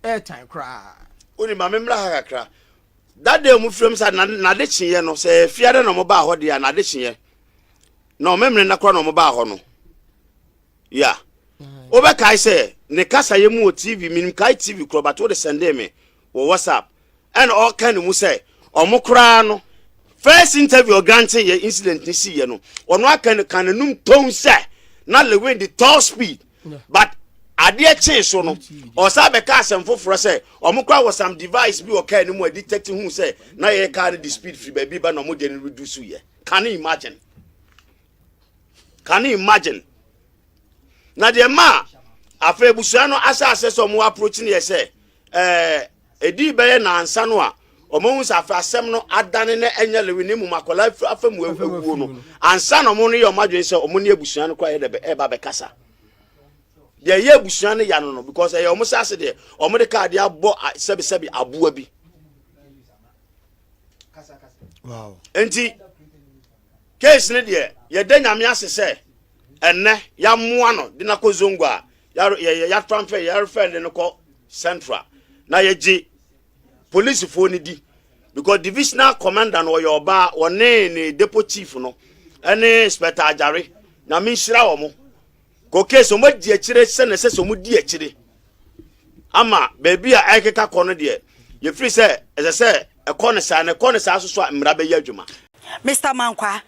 ɛɛtan koraa. Oni ma me mmra ha kakra da dɛ ɔmo fira mu saa na n'ade kyeeɛ no sɛ fiada na ɔmo baa hɔ deɛ a n'ade kyeeɛ na ɔmo mmerɛ na kora na ɔmo baa hɔ no ya wobɛkae sɛ ne kasayɛ mu wɔ tv menim kae tv korɔ but wode sɛndee me wɔ whatsapp ɛna ɔka ne mu sɛ ɔmo koraa no first interview ɔgrante yɛ incident ne siiɛ no ɔno aka no ka n'anum tɔn sɛ na lewin de tall speed But adeɛ kyee so no, ɔsan bɛka asɛm foforɔ sɛ wɔn koraa wɔ some device bi wɔ car no mu a detect hu sɛ na yɛyɛ car no de speed firi baabi ba na wɔn deɛ no reduce yɛ. Can you imagine? Can you imagine? Na deɛ ma afei abusua no ahyɛ aseɛ sɛ wɔn approach no yɛ sɛ ɛɛ. Eh, Edii bɛyɛ nnansa no a wɔahu sɛ afei asɛm no adane na ɛnyɛ Lewi na mmom akwadaa firi afa mu awuo no, ansa na wɔreyɛ wɔn adwene sɛ wɔn ne abusua no koraa yɛ dɛ ɛreba bɛkasa. Deɛ ɛyɛ abusua no ya no no, because ɛyɛ wɔn saase deɛ, wɔde kaa de abɔ sɛbesɛbe aboa bi. Wow. Nti, case no deɛ, yɛda nyame ase sɛ ɛnɛ yɛamoa no de no akɔ zongo a yɛyɛ yɛtransfer yɛrefɛ ne no kɔ central na yɛgye polisifoɔ no di because divisional commander no ɔyɛ ɔbaa ɔne ne depo chief no ɛne spɛta agyare nyame nhyira wɔ mo koke sɛ ɔmadi akyire sɛ na ɛsɛ sɛ ɔmodi akyire ama baabi a ɛkeka kɔ no deɛ yɛfiri sɛ ɛsɛ sɛ Ɛkɔ no saa na ɛkɔ no saa soso a mmara bɛyɛ adwuma. Mister Mankwaa,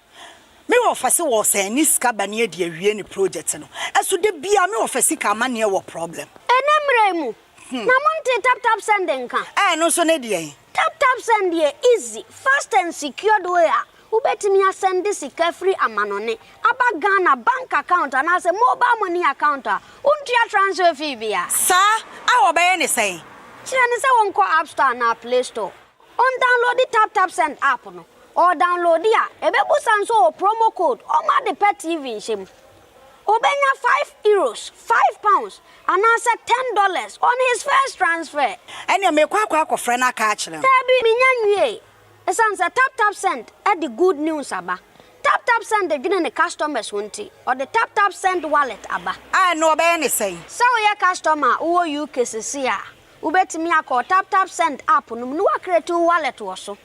me office wɔ sɛ ɛne sika ba ne ɛde awie ne project no ɛso da biara me office sika amaneɛ wɔ problem. Ɛnɛ mmerɛ yi mu na mo ntee tap tap send nka? Ɛɛ ɛno nso ne deɛn? Tap tap send yɛ easy, fast and secured way a Wobɛtumi asɛnde sika firi amanɔne aba Ghana bank account anaasɛ mobile money account a wontua transfer fee bia. Saa a wɔbɛyɛ ne sɛn? Kyerɛ no sɛ ɔnkɔ App Store anaa Play Store, ɔndownloadi Tap Tap Send app no. Ɔredownloadi a, ɛbɛbusa no sɛ ɔwɔ promo code ɔma ade pɛ TV nhyɛ mu. Ɔbɛnya five Euros, five pounds, anaasɛ ten dollars on his first transfer. Ɛneɛ merekɔ akɔ akɔfrɛ no aka akyerɛ no. Daabi, menya nwiee. Esiane sɛ TapTapSend de good news aba, TapTapSend dwene ne customers ho nti, ɔde TapTapSend Wallet aba. A ɛno wɔbɛyɛ no sɛn? Sɛ woyɛ customer a wowɔ UK seesei a, wobɛtumi akɔ wo TapTapSend app no mu na woacreate wo wallet wɔ so.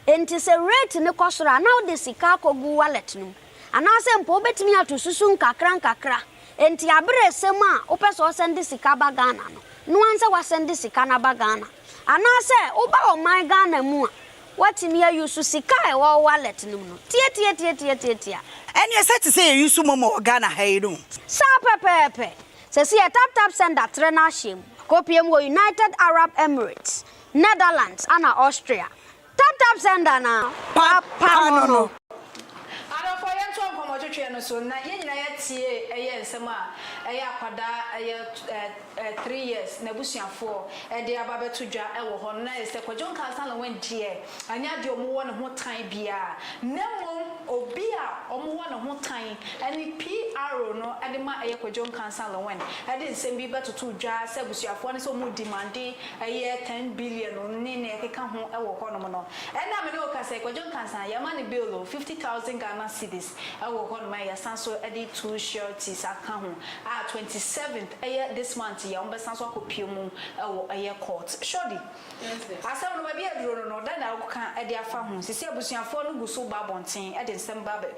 Enti sɛ rate no kɔ soro a, na wode sika akɔgu wo wallet no mu. Anaasɛ mpo wobɛtumi ato susu nkakra nkakra. Enti aberɛ resɛm a wopɛ sɛ wosɛnde sika ba Ghana no, noa sɛ woasɛnde sika no aba Ghana. Anaasɛ woba ɔman Ghana mu a, woatumi ayusu sika a ɛwɔ wo wallet no mu no tiatiatiatiatiatia. Ɛneɛ sɛ te sɛ yɛyusu momo wɔ Ghana ha yi no. Saa pɛpɛɛpɛ. Sɛsi yɛ tap tap send da trɛ no ahyɛm. Kɔpie mu wɔ United Arab Emirates, Netherlands ana Austria. Tap tap sender na papa no no. Adɔfoɔ yɛntoa nkɔmmɔtwetweɛ no so na yɛn nyinaa yɛatie ɛyɛ nsɛm a ɛyɛ akwadaa ɛyɛ ɛɛ three years n'abusuafoɔ ɛde aba abɛto dwa ɛwɔ hɔ no na ayɛ sɛ Kwadwo Nkansah Lawrence deɛ ɛnyɛ adeɛ a wɔwɔ ne ho tan biara na mmom obi a wɔwɔ ne ho tan ɛne PRO no ɛde ma ɛyɛ Kwadwo Nkansah Lawrence ɛde nsɛm bi bɛtoto dwa sɛ abusuafoɔ no sɛ wɔredimande ɛyɛ ten billion ne nea ɛkeka ho wɔ hɔnom no. Ɛnnɛ a me ne wo kasa yi, Kwadwo Nkansah, yɛama no bail o, fifty thousand Ghana cedis wɔ hɔnom a yɛasan so de two sureties aka ho a twenty seventh, ɛyɛ this month yi a wɔbɛsan so akɔpue mu wɔ ɛyɛ court. Shorty, asɛm no baabi a aduro no no, dɛn na woka de afa ho? Seesei abusuafoɔ no gu so ba abɔnten de nsɛm ba bɛ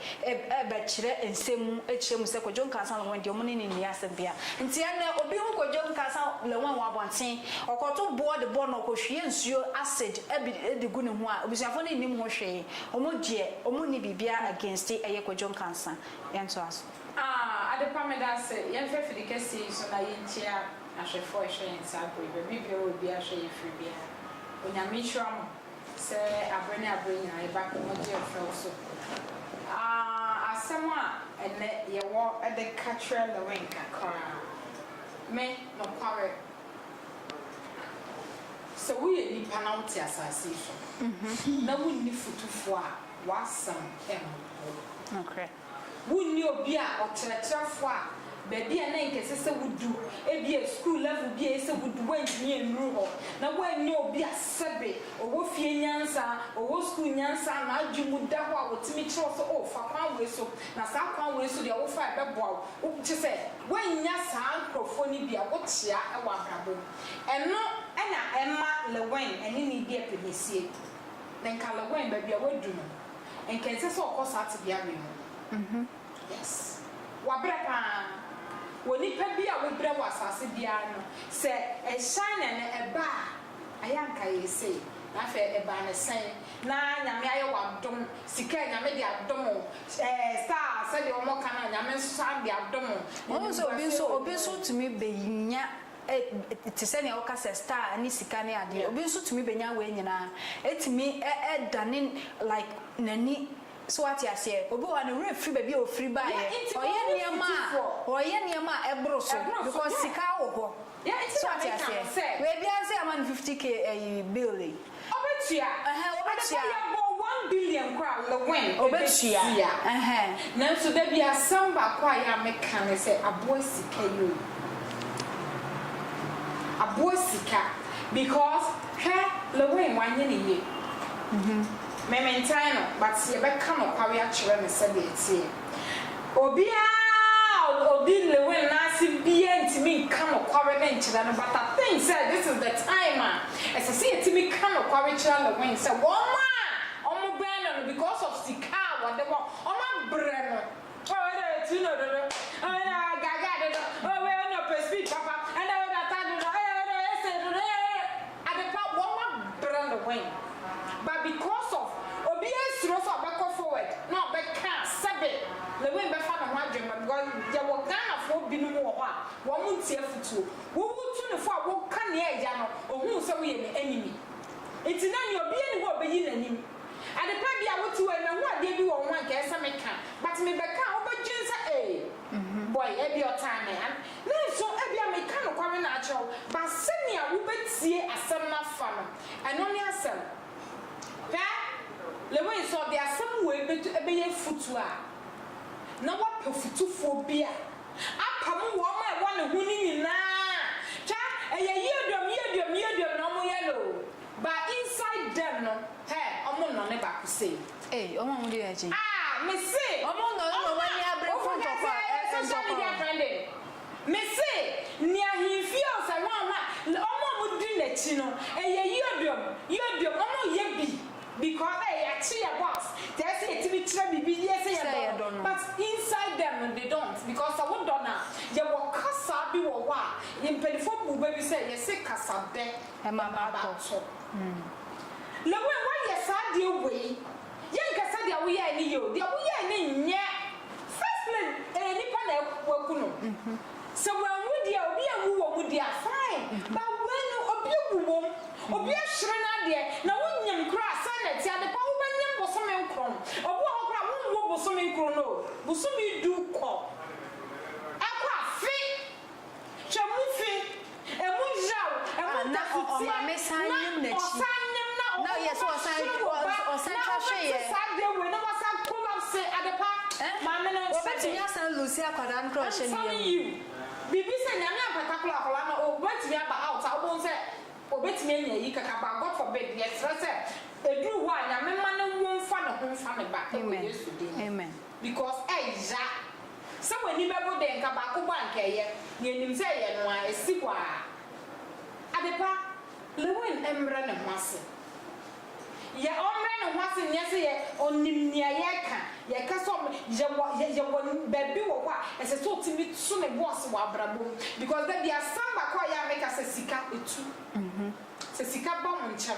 bɛkyerɛ nsɛm mu kyerɛ mu sɛ Kwadwo Nkansah Lawɔn deɛ wɔne no nni asɛm bia. Nti ɛnnɛ obi hu Kwadwo Nkansah Lawɔn wɔ abɔnten, ɔkɔto boɔ de bɔ no, ɔkɔhwie nsuo, acid, bi de gu ne ho a, abusuafoɔ no nnim ho hwee. Wɔn deɛ, wɔn nni biribiara against ɛyɛ Kwadwo Nkansah. Yɛntoa so. Aah Adepa meda ase. Yɛnhwɛ afidi kɛseɛ yi so na yɛnkyia ahwɛfoɔ a ɛhwɛ yɛn saa berɛ yi. Baabi biara a obiara hwɛ yɛn firi biara, Onyame nhyira mo. Sɛ abere ne abere nyinaa yɛba Komogye-Mfɛw so a, asɛm a ɛnnɛ yɛwɔ de ka kyerɛ Lewin kakra ara me nokware. Sɛ woyɛ nipa na wote asase yi so na wonni fotufo a, w'asɛm mmu. Wunni obi a ɔkyerɛkyerɛfo a baabi a na anka ɛsɛ sɛ wudu, ebia sukuu level bi a ɛsɛ sɛ wudu, woantumi annuru hɔ, na woannya obi a sɛbe ɔwɔ fie nyansa, ɔwɔ sukuu nyansa a n'adwene mu da hɔ a otumi kyerɛ wo sɛ, 'Oh, fa kwan wei so, na saa kwan wei so deɛ wofa a ɛbɛboa wo. Wo, kyerɛ sɛ, woannya saa nkurɔfoɔ no bi a wokyea wɔ abrabɔ mu. Ɛno na ɛma Lewin ne ne deɛ pɛ bɛsie. Na anka Lewin, baabi a wadu no, Nka ɛnsɛ sɛ ɔkɔ saa tebea wei mu. Yes. Wabrɛ paa. Wɔ nipa bi a wobrɛ wɔ asase biara no, sɛ China no ɛba a, ayɛ anka yɛ sei. Na afei ɛbaa no sɛn? Na Nyame ayɛ wo adom, sika a Nyame de adom wo, ɛɛ star a sɛdeɛ wɔn ka no a Nyame nso san de adom wo. Wahu sɛ obi nso, obi nso tumi bɛ nya Ɛ, te sɛ nea woka sɛ star ne sika ne adeɛ. Obi nso tumi bɛnya wei nyinaa. Ɛtumi ɛ, ɛdane like n'ani. So woate aseɛ? Obi wɔ hɔ a, ne werɛ firi baabi a ɔfiri baeɛ. Ɔyɛ nneɛma a, ɔyɛ nneɛma a ɛboro so because sika wɔ hɔ. So woate aseɛ? Wei biara nso yɛama no 50K ɛyi, bill yi. Ɔbɛtua, ɛhɛn, ɔbɛtua. Adekwa yɛbɔ one billion koraa a, Lewin, ɔbɛtua. Ɔbɛtua, ɛhɛn, nanso da bi asɛm baako a yɛ a meka ne sɛ, aboa sika yi o, aboa sika, because hwɛ, Lewin, wanyɛ ne yie. Me, mentan no, but yɛbɛka nokware akyerɛ no sɛdeɛ ɛteɛ. Obiara a odi Lewin nan ase biara ntumi nka nokware no nkyerɛ no, but I think sɛ this is the time a ɛsɛ sɛ yɛtumi ka nokware kyerɛ Lewin sɛ wɔn a wɔbɛn no no because of sika a wɔde ma wɔn abrɛ no, oh ɛna ɔtu no dodo, oh ɛna ɔgaagaa dodo, oh wei ɛna ɔpɛ speed papa, ɛna wei n'atade dodo, ɛna wei n'ɔyɛ sei dodo, ɛna wei. Adepa wɔma brɛ no when but because of obiaa suro sɛ ɔbɛkɔ forward na ɔbɛka sɛbe ne when bɛfa ne ho adwen ma because yɛwɔ Ghanafoɔ binom wɔ hɔ a wɔn ntie afutuo wo wo tu no fo a wo ka nea ɛya no ɔhu wo sɛ woyɛ ne enemy nti na nea obiaa nni hɔ a ɔbɛyi nanim Adepa bia wote hɔ yi mahu adeɛ bi wɔ wo ho a nka ɛyɛ sɛ meka but mebɛka a wobɛdwen sɛ ee. Boy, ebia ɔtan me, and me nso ebia meka nokware no ara akyerɛ wo, but sɛnea wubetie asɛm no afa no, ɛno ne asɛm. Hwɛ, Lewin, sɛ ɔde asɛm wei betu ɛbɛyɛ afotu a, na wapɛ fotufoɔ bi a apam wɔn a ɛwɔ ne ho no nyinaa. Hwɛ, ɛyɛ yiaduam, yiaduam, yiaduam na wɔyɛ no o, but inside them no, hɛ, wɔnnɔ ne baako sei. Ei ɔmo a ɔmo di yɛn akyi. Ah mese ɔmo nnɔ no na ɔmo ani abere ko ntɔkwa eh eh ntɔkwa. Mese nea ahenfie o sɛ wɔn ho a ɔmo a ɔmo di n'akyi no ɛyɛ yiodom yiodom ɔmo yɛ bi because eh yɛakye yɛ boss te ɛsɛ yɛtumi kyerɛ biribi yie sɛ yɛdɔ no but inside them no they don't because sɛ wodɔ no a yɛwɔ kasa bi wɔ hɔ a mpanyinfoɔ bu bɛ bi sɛ yɛse kasa bɛ ɛma ba to. Na wo a woayɛ saa adeɛ wei, yɛnka sɛ deɛ woyɛɛ no yɛ o, deɛ woyɛɛ no nyɛ first lady, ɛyɛ nipa na waku no, sɛ wanwu deɛ obi anwu wɔ mu deɛ a fine, but wei no obi awu wɔ mu, obi ahyere n'adeɛ, na wonnim koraa sɛn na ɛteɛ, adepa wobɛnyem bosome nkron, obi wɔ hɔ koraa wonwo bosome nkron no o, bosome du kɔ, ɛkɔ afe. Twam fi, ɛmu yeraw, ɛmu da fitiɛ, na ɔsan nyem na ɔmo kɔma hwe wɔ ba, na ɔmo te saa deɛ wei na wasan collapse adepa, maame no nsa de, nsa no yiw, bibi sɛ nyame ampataklo akwadaa no obetumi aba out a wobɛhu sɛ obetumi anya ayi kakra but God forbid, yɛsrɛ sɛ ɛduru hɔ a nyame mma ne wo mfa ne ho mfa ne ba ɛwɔ Yesu din mu. Because ɛya. Sɛ w'ani bɛbo dɛ nka baako bɔ a nka ɛyɛ. Nea ɛnim sɛ ɛyɛ no ara, ɛsi hɔ ara. Adepa, Lewin mmrɛ ne ho ase. Yɛ ɔmmrɛ ne ho ase nyɛ sɛ yɛ ɔnim nea yɛreka. Yɛka sɛ ɔmmrɛ, yɛwɔ, yɛ, yɛwɔ baabi wɔ hɔ a ɛsɛ sɛ ɔtumi to ne bo ase wɔ abrabɔ mu. Because da bi asɛm baako a ɛyɛ a meka sɛ sika, ɛtu. Sɛ sika ba mo nkyɛn.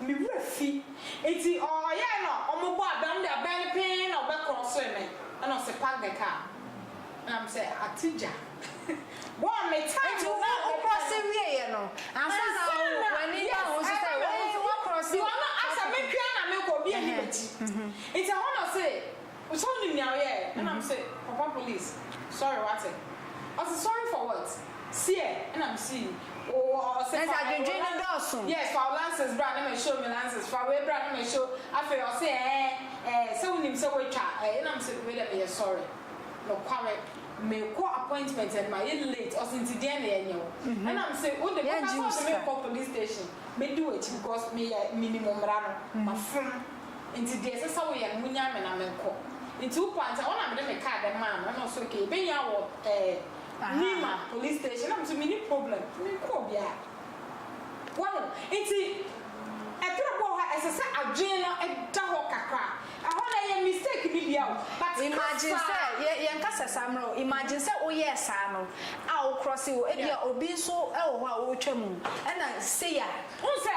Me werɛ fi. Ntsi ɔ ɔyɛe na ɔmo bɔɔ abɛn, ɔno de abɛn no pee na ɔbɛkrɔsee me, nna ɔse park the car, nna me se atse gya bɔɔ me time Ntsi no na wo wo mepɛ krɔse no. wieɛ no, ansa na Ansa wo na, w'ani ba yes, ho so sɛ ɛba me ho wei so, woakrɔse because ɔno asɛ me parking. pia na mekɔ, obi nni Ɛhɛn, m'akyi, mhm. ntsi ɛhɔ na ɔse. Wo sɛ wonim nea ɔyɛɛ? Ɛna mese, Papa police, sorry wate? Ɔse, Sorry for what? Seɛ? Ɛna mese, Wo, ɔse, Fa wo license, yes, fa wo license bra na ma show me license, fa wei bra na ma show, afei ɔse, Ɛɛn, ɛɛn, sɛ wonim sɛ woatwa, ɛɛn, ɛna mese, Wei deɛ meyɛ sorry, nokware, mekɔ appointment and mayɛ late, ɔse, Nti deɛn na yɛnyɛ wo? Ɛna mese, Wo de, woka sɛ wode me rekɔ police station, mɛdi w'akyi because meyɛ, menim mmara no, mafom. Ntsi dza ɛsɛ sɛ woyɛ no, munyaa me na menkɔ. Ntsi wo paa ntsi, hɔ na mede me kaar dɛ maa no, nna ɔse okay, yebenya wo wɔ ɛɛ, Nima Police Station. Nna mese minnyi problem, menkɔɔ biara. Wahu? Ntsi ber bi wɔ hɔ a, ɛsɛ sɛ adwen no da hɔ kakra. Hɔ no, ɛyɛ mistake ne bia o, but Imagine sɛ, kasaa. yɛ, yɛnkasa saa mbrɛ o, imagine sɛ woyɛɛ saa no a wo krɔsee o, ebia obi so wɔ hɔ a ootwa mu, nna sei a. Wohu sɛ.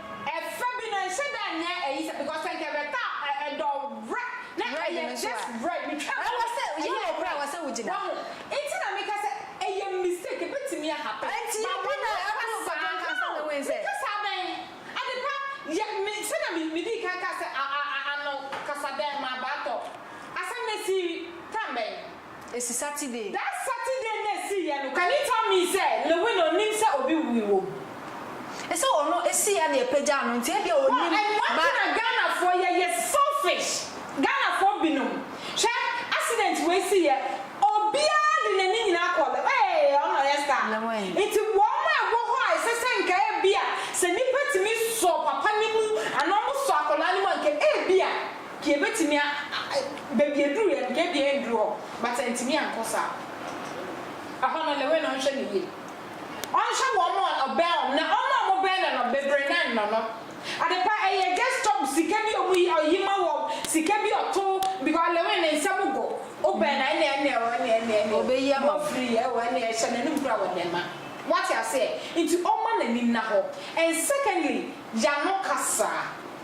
Ɛfɛ bi no nhyɛ da nyɛ ɛyi sɛ because sɛ nkɛ bɛ ta ɛdɔ vrɛ na ɛyɛ just vrɛ me twa mu no ɛyɛ vrɛ wahu nti na me ka sɛ ɛyɛ mistake ɛbɛtumi a happen but wɔ nyɛ fa saa no me ka saa dɛn ade pa yɛ me sɛnea me me dii kan kaa sɛ a a a ano kasa dɛn ma baa tɔ asɛm no ɛsii time bɛn. Esi Saturday. That Saturday na esi yɛ no can you tell me sɛ Lewin onim sɛ obi wui wɔ mu. Sɛ ɔno esi yɛ na yɛpagyaa no nti ebia onim but. No ɛno nti na Ghanafoɔ yɛyɛ selfish Ghanafoɔ binom hwɛ accident wei si yɛ obiara de n'ani nyinaa kɔ Lewin ee ɔno na ɔyɛ star nti wɔn a ɛwɔ hɔ a ɛsɛ sɛ nka ebia sɛ nipa tumi sɔ papa no mu anaa wɔsɔ akwadaa no mu a nka ebia Nka yɛbɛtumi a baabi yɛduruiɛ no, yɛdeɛ yɛnduru hɔ, but antumi ankɔ saa. Ɛhɔ no, ne were no nhwɛ no yie. Ɔnhwɛ wɔn a ɔbɛn wɔn, na wɔn a wɔbɛn no no, bebree no nnɔ no. Adepa, ɛyɛ just stop sika bi a wɔyi, ɔyi ma wɔn, sika bi a ɔto, because ne were no nsɛm go, wobɛn no a, ɛnneɛ, ɛnneɛ o, ɛnneɛ, ɛnneɛ, ɛnneɛ o, Ɔbɛyi ama wo. wɔfiri yɛ o, ɛnneɛ hyɛ n'anom koraa wɔde ma. Woate aseɛ? Nti ɔmma n'ani nna hɔ. And secondly, y'ano kasa.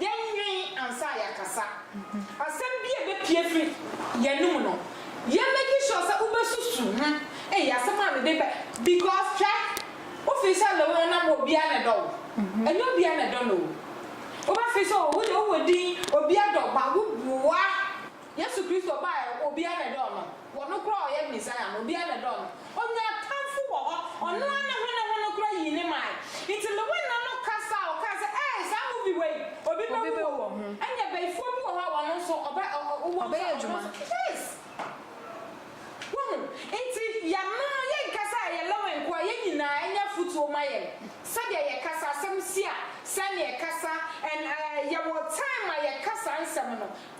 Yɛnnwen ansa a yɛakasa. Asɛm bi a ɛbɛpue afiri yɛn anom no, yɛ make sure sɛ wobɛsusu ho, Ei, asɛm a mede bɛ. Because hwɛ, wofii sɛ loo no nam hɔ obiara na ɛdɔ wo. Ɛnyɛ obiara na ɛdɔ no o. Wobɛfee sɛ o, wo deɛ wowɔ din, obiara dɔ wo, but woboa. Yesu Kristo bae a obiara na ɛdɔɔ no, wɔ no koraa a ɔyɛ Mesaia no, obiara na ɛdɔɔ no. Onyaa atamfo wɔ hɔ, ɔno ara ne hwene ho no koraa yii ne mae. Enti me wena no kasa a ɔkae sɛ, Ee, saa movie wei, obi bɛwu wɔ ho. Ɛnneɛ bayifoɔ bi wɔ hɔ a wɔn nso ɔbɛ ɔ ɔ wowɔ nso a wɔn nso yes! Woahu? Enti yɛanom no, yɛnka sɛ ɛyɛ Lowen nko ara, yɛn nyinaa ɛnyɛ afotuo ma yɛn. Sɛdeɛ yɛkasa, asɛm si a, sɛdeɛ yɛkasa, and ɛɛ yɛwɔ time a yɛka saa nsɛm no.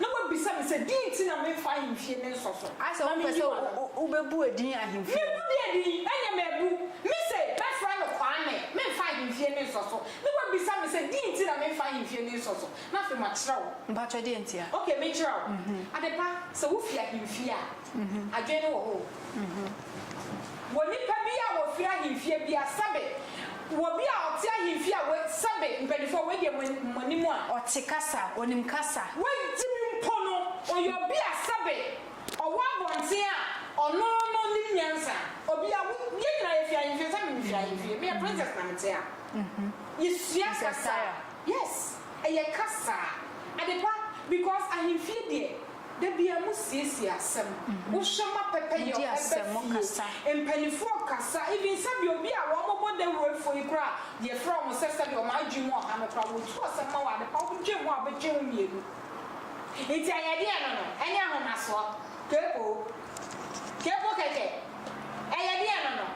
Na wabisa me sɛ, Deɛn nti na memfa ahemfie no nsɔ so? Ayɛ sɛ wompɛ sɛ wobɛbu edin ahemfie no. Mebu deɛ edin? Ɛneɛ mabu. Mise, Mɛfrɛ no Kwame, memfa ahemfie no nsɔ so. Na wabisa me sɛ, Deɛn nti na memfa ahemfie no nsɔ so? Na afei makyerɛ wo. Mpakyɛ deɛn ntia? Okay, mekyerɛ wo. Adepa, sɛ wofi ahemfie a. adwene no wɔ hɔ o. Wɔ nnipa bi a wɔfiri ahemfie bi a, sɛbe wɔ obi a ɔte ahemfie a wei, sɛbe mpaninfoɔ a wei deɛ mo, mo anim a. Ɔte kasa, ɔnim kasa. Wagye mu mpo no, ɔyɛ obi a sɛbe ɔwɔ abɔnten a, ɔno, no nim nyansa. Obi a wo, yɛn nyinaa yɛfiri ahemfie, sɛbe mefiri ahemfie, meyɛ princess na mete ha. Yɛsua kasa. Princess Sarah. Yes, ɛyɛ kasa, adepa, because ahemfie deɛ. Da biara mo siesie asɛm. Wo hwɛ ma pɛpɛ yɛ ɔbɛ fie. Mpaninfoɔ kasa even sɛbi obi a wɔn bɔ dawuro foɔ yi koraa yɛ frɛ wɔn sɛ sɛbi wɔn adwene mu ɔha no koraa wɔ tu asɛm ma wɔn adepa wɔn dwen ho a wɔbɛ twe ho mmienu. Nti ayɛdeɛ no no ɛne ahomasoɔ? Keekoo. Kɛkɔ kɛkɛ, ɛyɛ deɛ no no.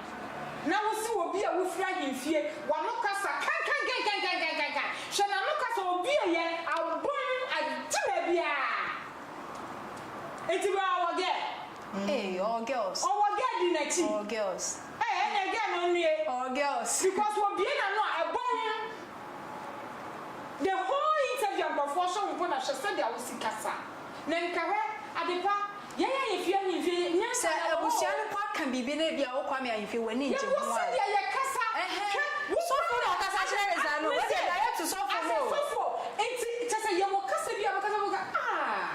Na wo se obi a wofiri ahemfie, w'ano kasa kankankankankankankan, hwɛ n'ano kasa ɔbueɛ abom agye baabiara, nti baa ɔwɔ girl, Eii ɔwɔ girls, ɔwɔ girl di n'akyi, ɔwɔ girls, eh ɛnneɛ girl no nnue, ɔwɔ girls, because obue n'ano a ɛbom, the whole interview a nkurɔfoɔ hwɛ wo mpo na hwɛ sɛdeɛ wo se kasa. Na nkehwɛ, adepa, yɛn ahemfie ahemfie yi, nyɛ Sɛ nana wɔ hɔ abusua oo. no kɔ ka biribi na ebia wo Kwame ahemfie w'ani ngye Yɛwɔ ho a. sɛdeɛ yɛkasa, Ɛhɛn, hwɛ, wo sɔfo na ɔkasa kyerɛ ne saa no, wodeɛ da yɛ to sɔfo mu o. Asɛsofo, nti kyɛ sɛ yɛwɔ kasa bi a bɛkasa bɛka aah,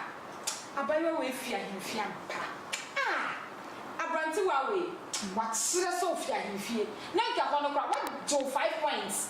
abayewa wei fi ahemfie ampa, aah, abrantewaa wei, wakyerɛ sɛ ofi ahemfie, na nka ɛhɔ no koraa, wagye wo five points.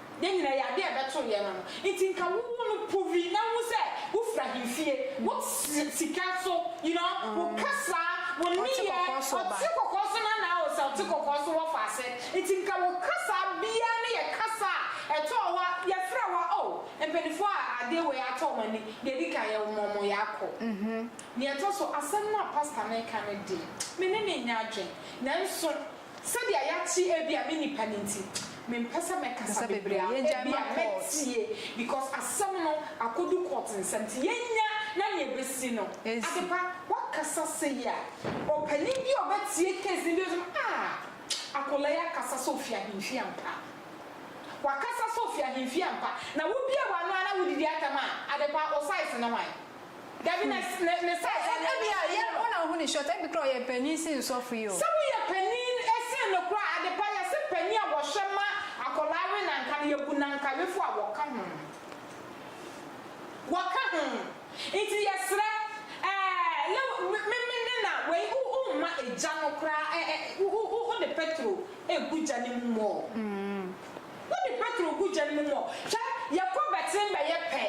Yɛn nyinaa yɛ adeɛ a ɛbɛto yɛn ano. Nti nka wo wo no puvi na hu sɛ wo firi ahemfie. Wo te sika so, you know, wo kasa, wo nneyɛɛ, ɔte kɔkɔɔ so na na o sɛ ɔte kɔkɔɔ so wɔ faase. Nti nka wo kasa biara no yɛ kasa a ɛtɔ wo a, yɛfrɛ wo a, oh, mpaninfoɔ a adeɛ wei atɔ wɔn ani, deɛ ɛdi kan yɛ wo ma wɔn yɛ akɔ. Deɛ ɛtɔ so, asɛm no a pastor no reka no deɛ, me ne no nnya adwene. Nanso Sɛdeɛ yɛate ebia me nipa no nti mempɛ sɛ mɛkasa bebree a ebia mɛtie because asɛm no akɔdu court nsa nti yɛnya na nea ɛbɛsi no Adepa woakasa sei a ɔpanin bi a ɔbɛtie case no bi bɛhu sɛ aah akwadaa yi akasa sɛ ɔfiri ahemfie ampa wakasa sɛ ɔfiri ahemfie ampa na wobiee w'ano ara na wodidi atɛm a Adepa wo size ne hwan? Dabi na me me sɛ ɛdɛ ne Ebia yɛ wo na wohu ne short ebi kora ɔyɛ panin sen sɔfo yi o. Sɛ woyɛ panin sen no koraa adepa yɛse panin a wɔhwɛ ma akwadaa we na nka no yɛbu nankayefo a wɔka ho wɔka ho nti yɛsrɛ ɛɛ me me ne na wei wo wo mma egya no koraa ɛ ɛ wo wo wode petro egu gya no mu mɔɔ wode petro gu gya no mu mɔɔ hwɛ yɛkɔ bɛten bɛyɛ pɛ.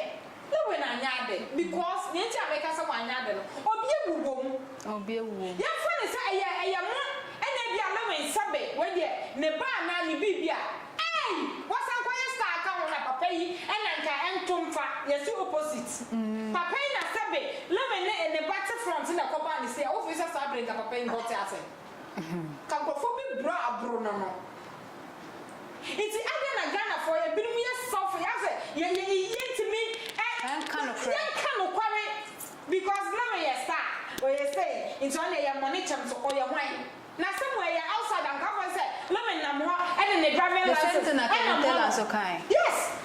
Na wei na anyɛ ade because nea nti a meka sɛ wanyɛ ade no obi awu wɔ mu. Obi awu wɔ mu. Yɛmfa no sɛ ɛyɛ ɛyɛ mo ɛna ebia Lewin sɛbe wei deɛ ne ba anaa ne biribi a eii wasan kɔyɛ star aka ho na papa yi ɛna nka ɛnto mfa yɛsi opposite papa yi na sɛbe Lewin ne ne ba te front na ɛkɔbaa ne sei a wofi sɛ saa bere nka papa yi nkɔte asɛm ka nkurɔfoɔ bi boro a aboro no no. Nti adɛn na Ghanafoɔ yɛ binom yɛ sɔfo yɛ asɛ yɛ yɛ yɛ ntumi ɛ yɛnka nokorɛ yɛnka nokware because na me yɛ star ɔyɛ sei nti ɔne yɛ mmɔ ne kyɛm so ɔyɛ hwan na sɛ mo ɛyɛ outside anka afɔ sɛ na me nam hɔ ɛde me driving license ɛnam hɔ nom yes.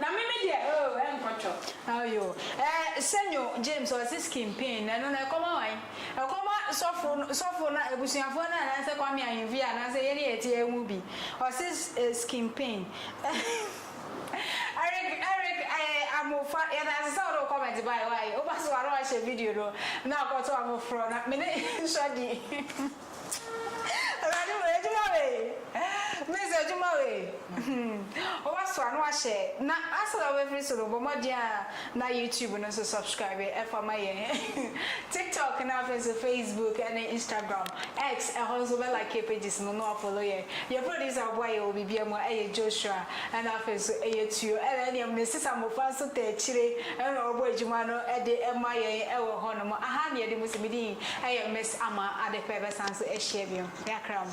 Na me me deɛ oo ɛnkɔ twɔ. Ayo eh senyo James ɔse skin pain na ɛno no ɛkɔma wan? Ɛkɔma sɔfo no sɔfo no abusuafoɔ no anaasɛ Kwame Ahemfie anaasɛ yɛn a yɛte ha mu bi ɔse skin pain Eric Eric eh Amofa yɛdase sɛ wode wo comment bae why woba so a na wahyɛ video no na akɔto afoforɔ na mene nsɔ di. Awurade wei adwuma wei Miss adwuma wei Woasoa na woahyɛ na ansa na wobɛfiri so no bɔ mmɔden a na YouTube no nso subscribe ɛfa ma yɛn TikTok na afei nso Facebook ne Instagram X ɛhɔ nso bɛ like yɛ pages no na woafollow yɛn Yɛn producer a ɔboa yɛn wɔ biribiara mu ɛyɛ Joshua ɛna afei nso ɛyɛ Tuo ɛna ɛne ɛmu no Sisa Mmofra nso ta akyire ɛna ɔbɔ adwuma no de ma yɛn ɛwɔ hɔnom Aha na yɛde mu si me din ɛyɛ Miss Ama ade pa bɛsan so ahyia bio y'akra mu.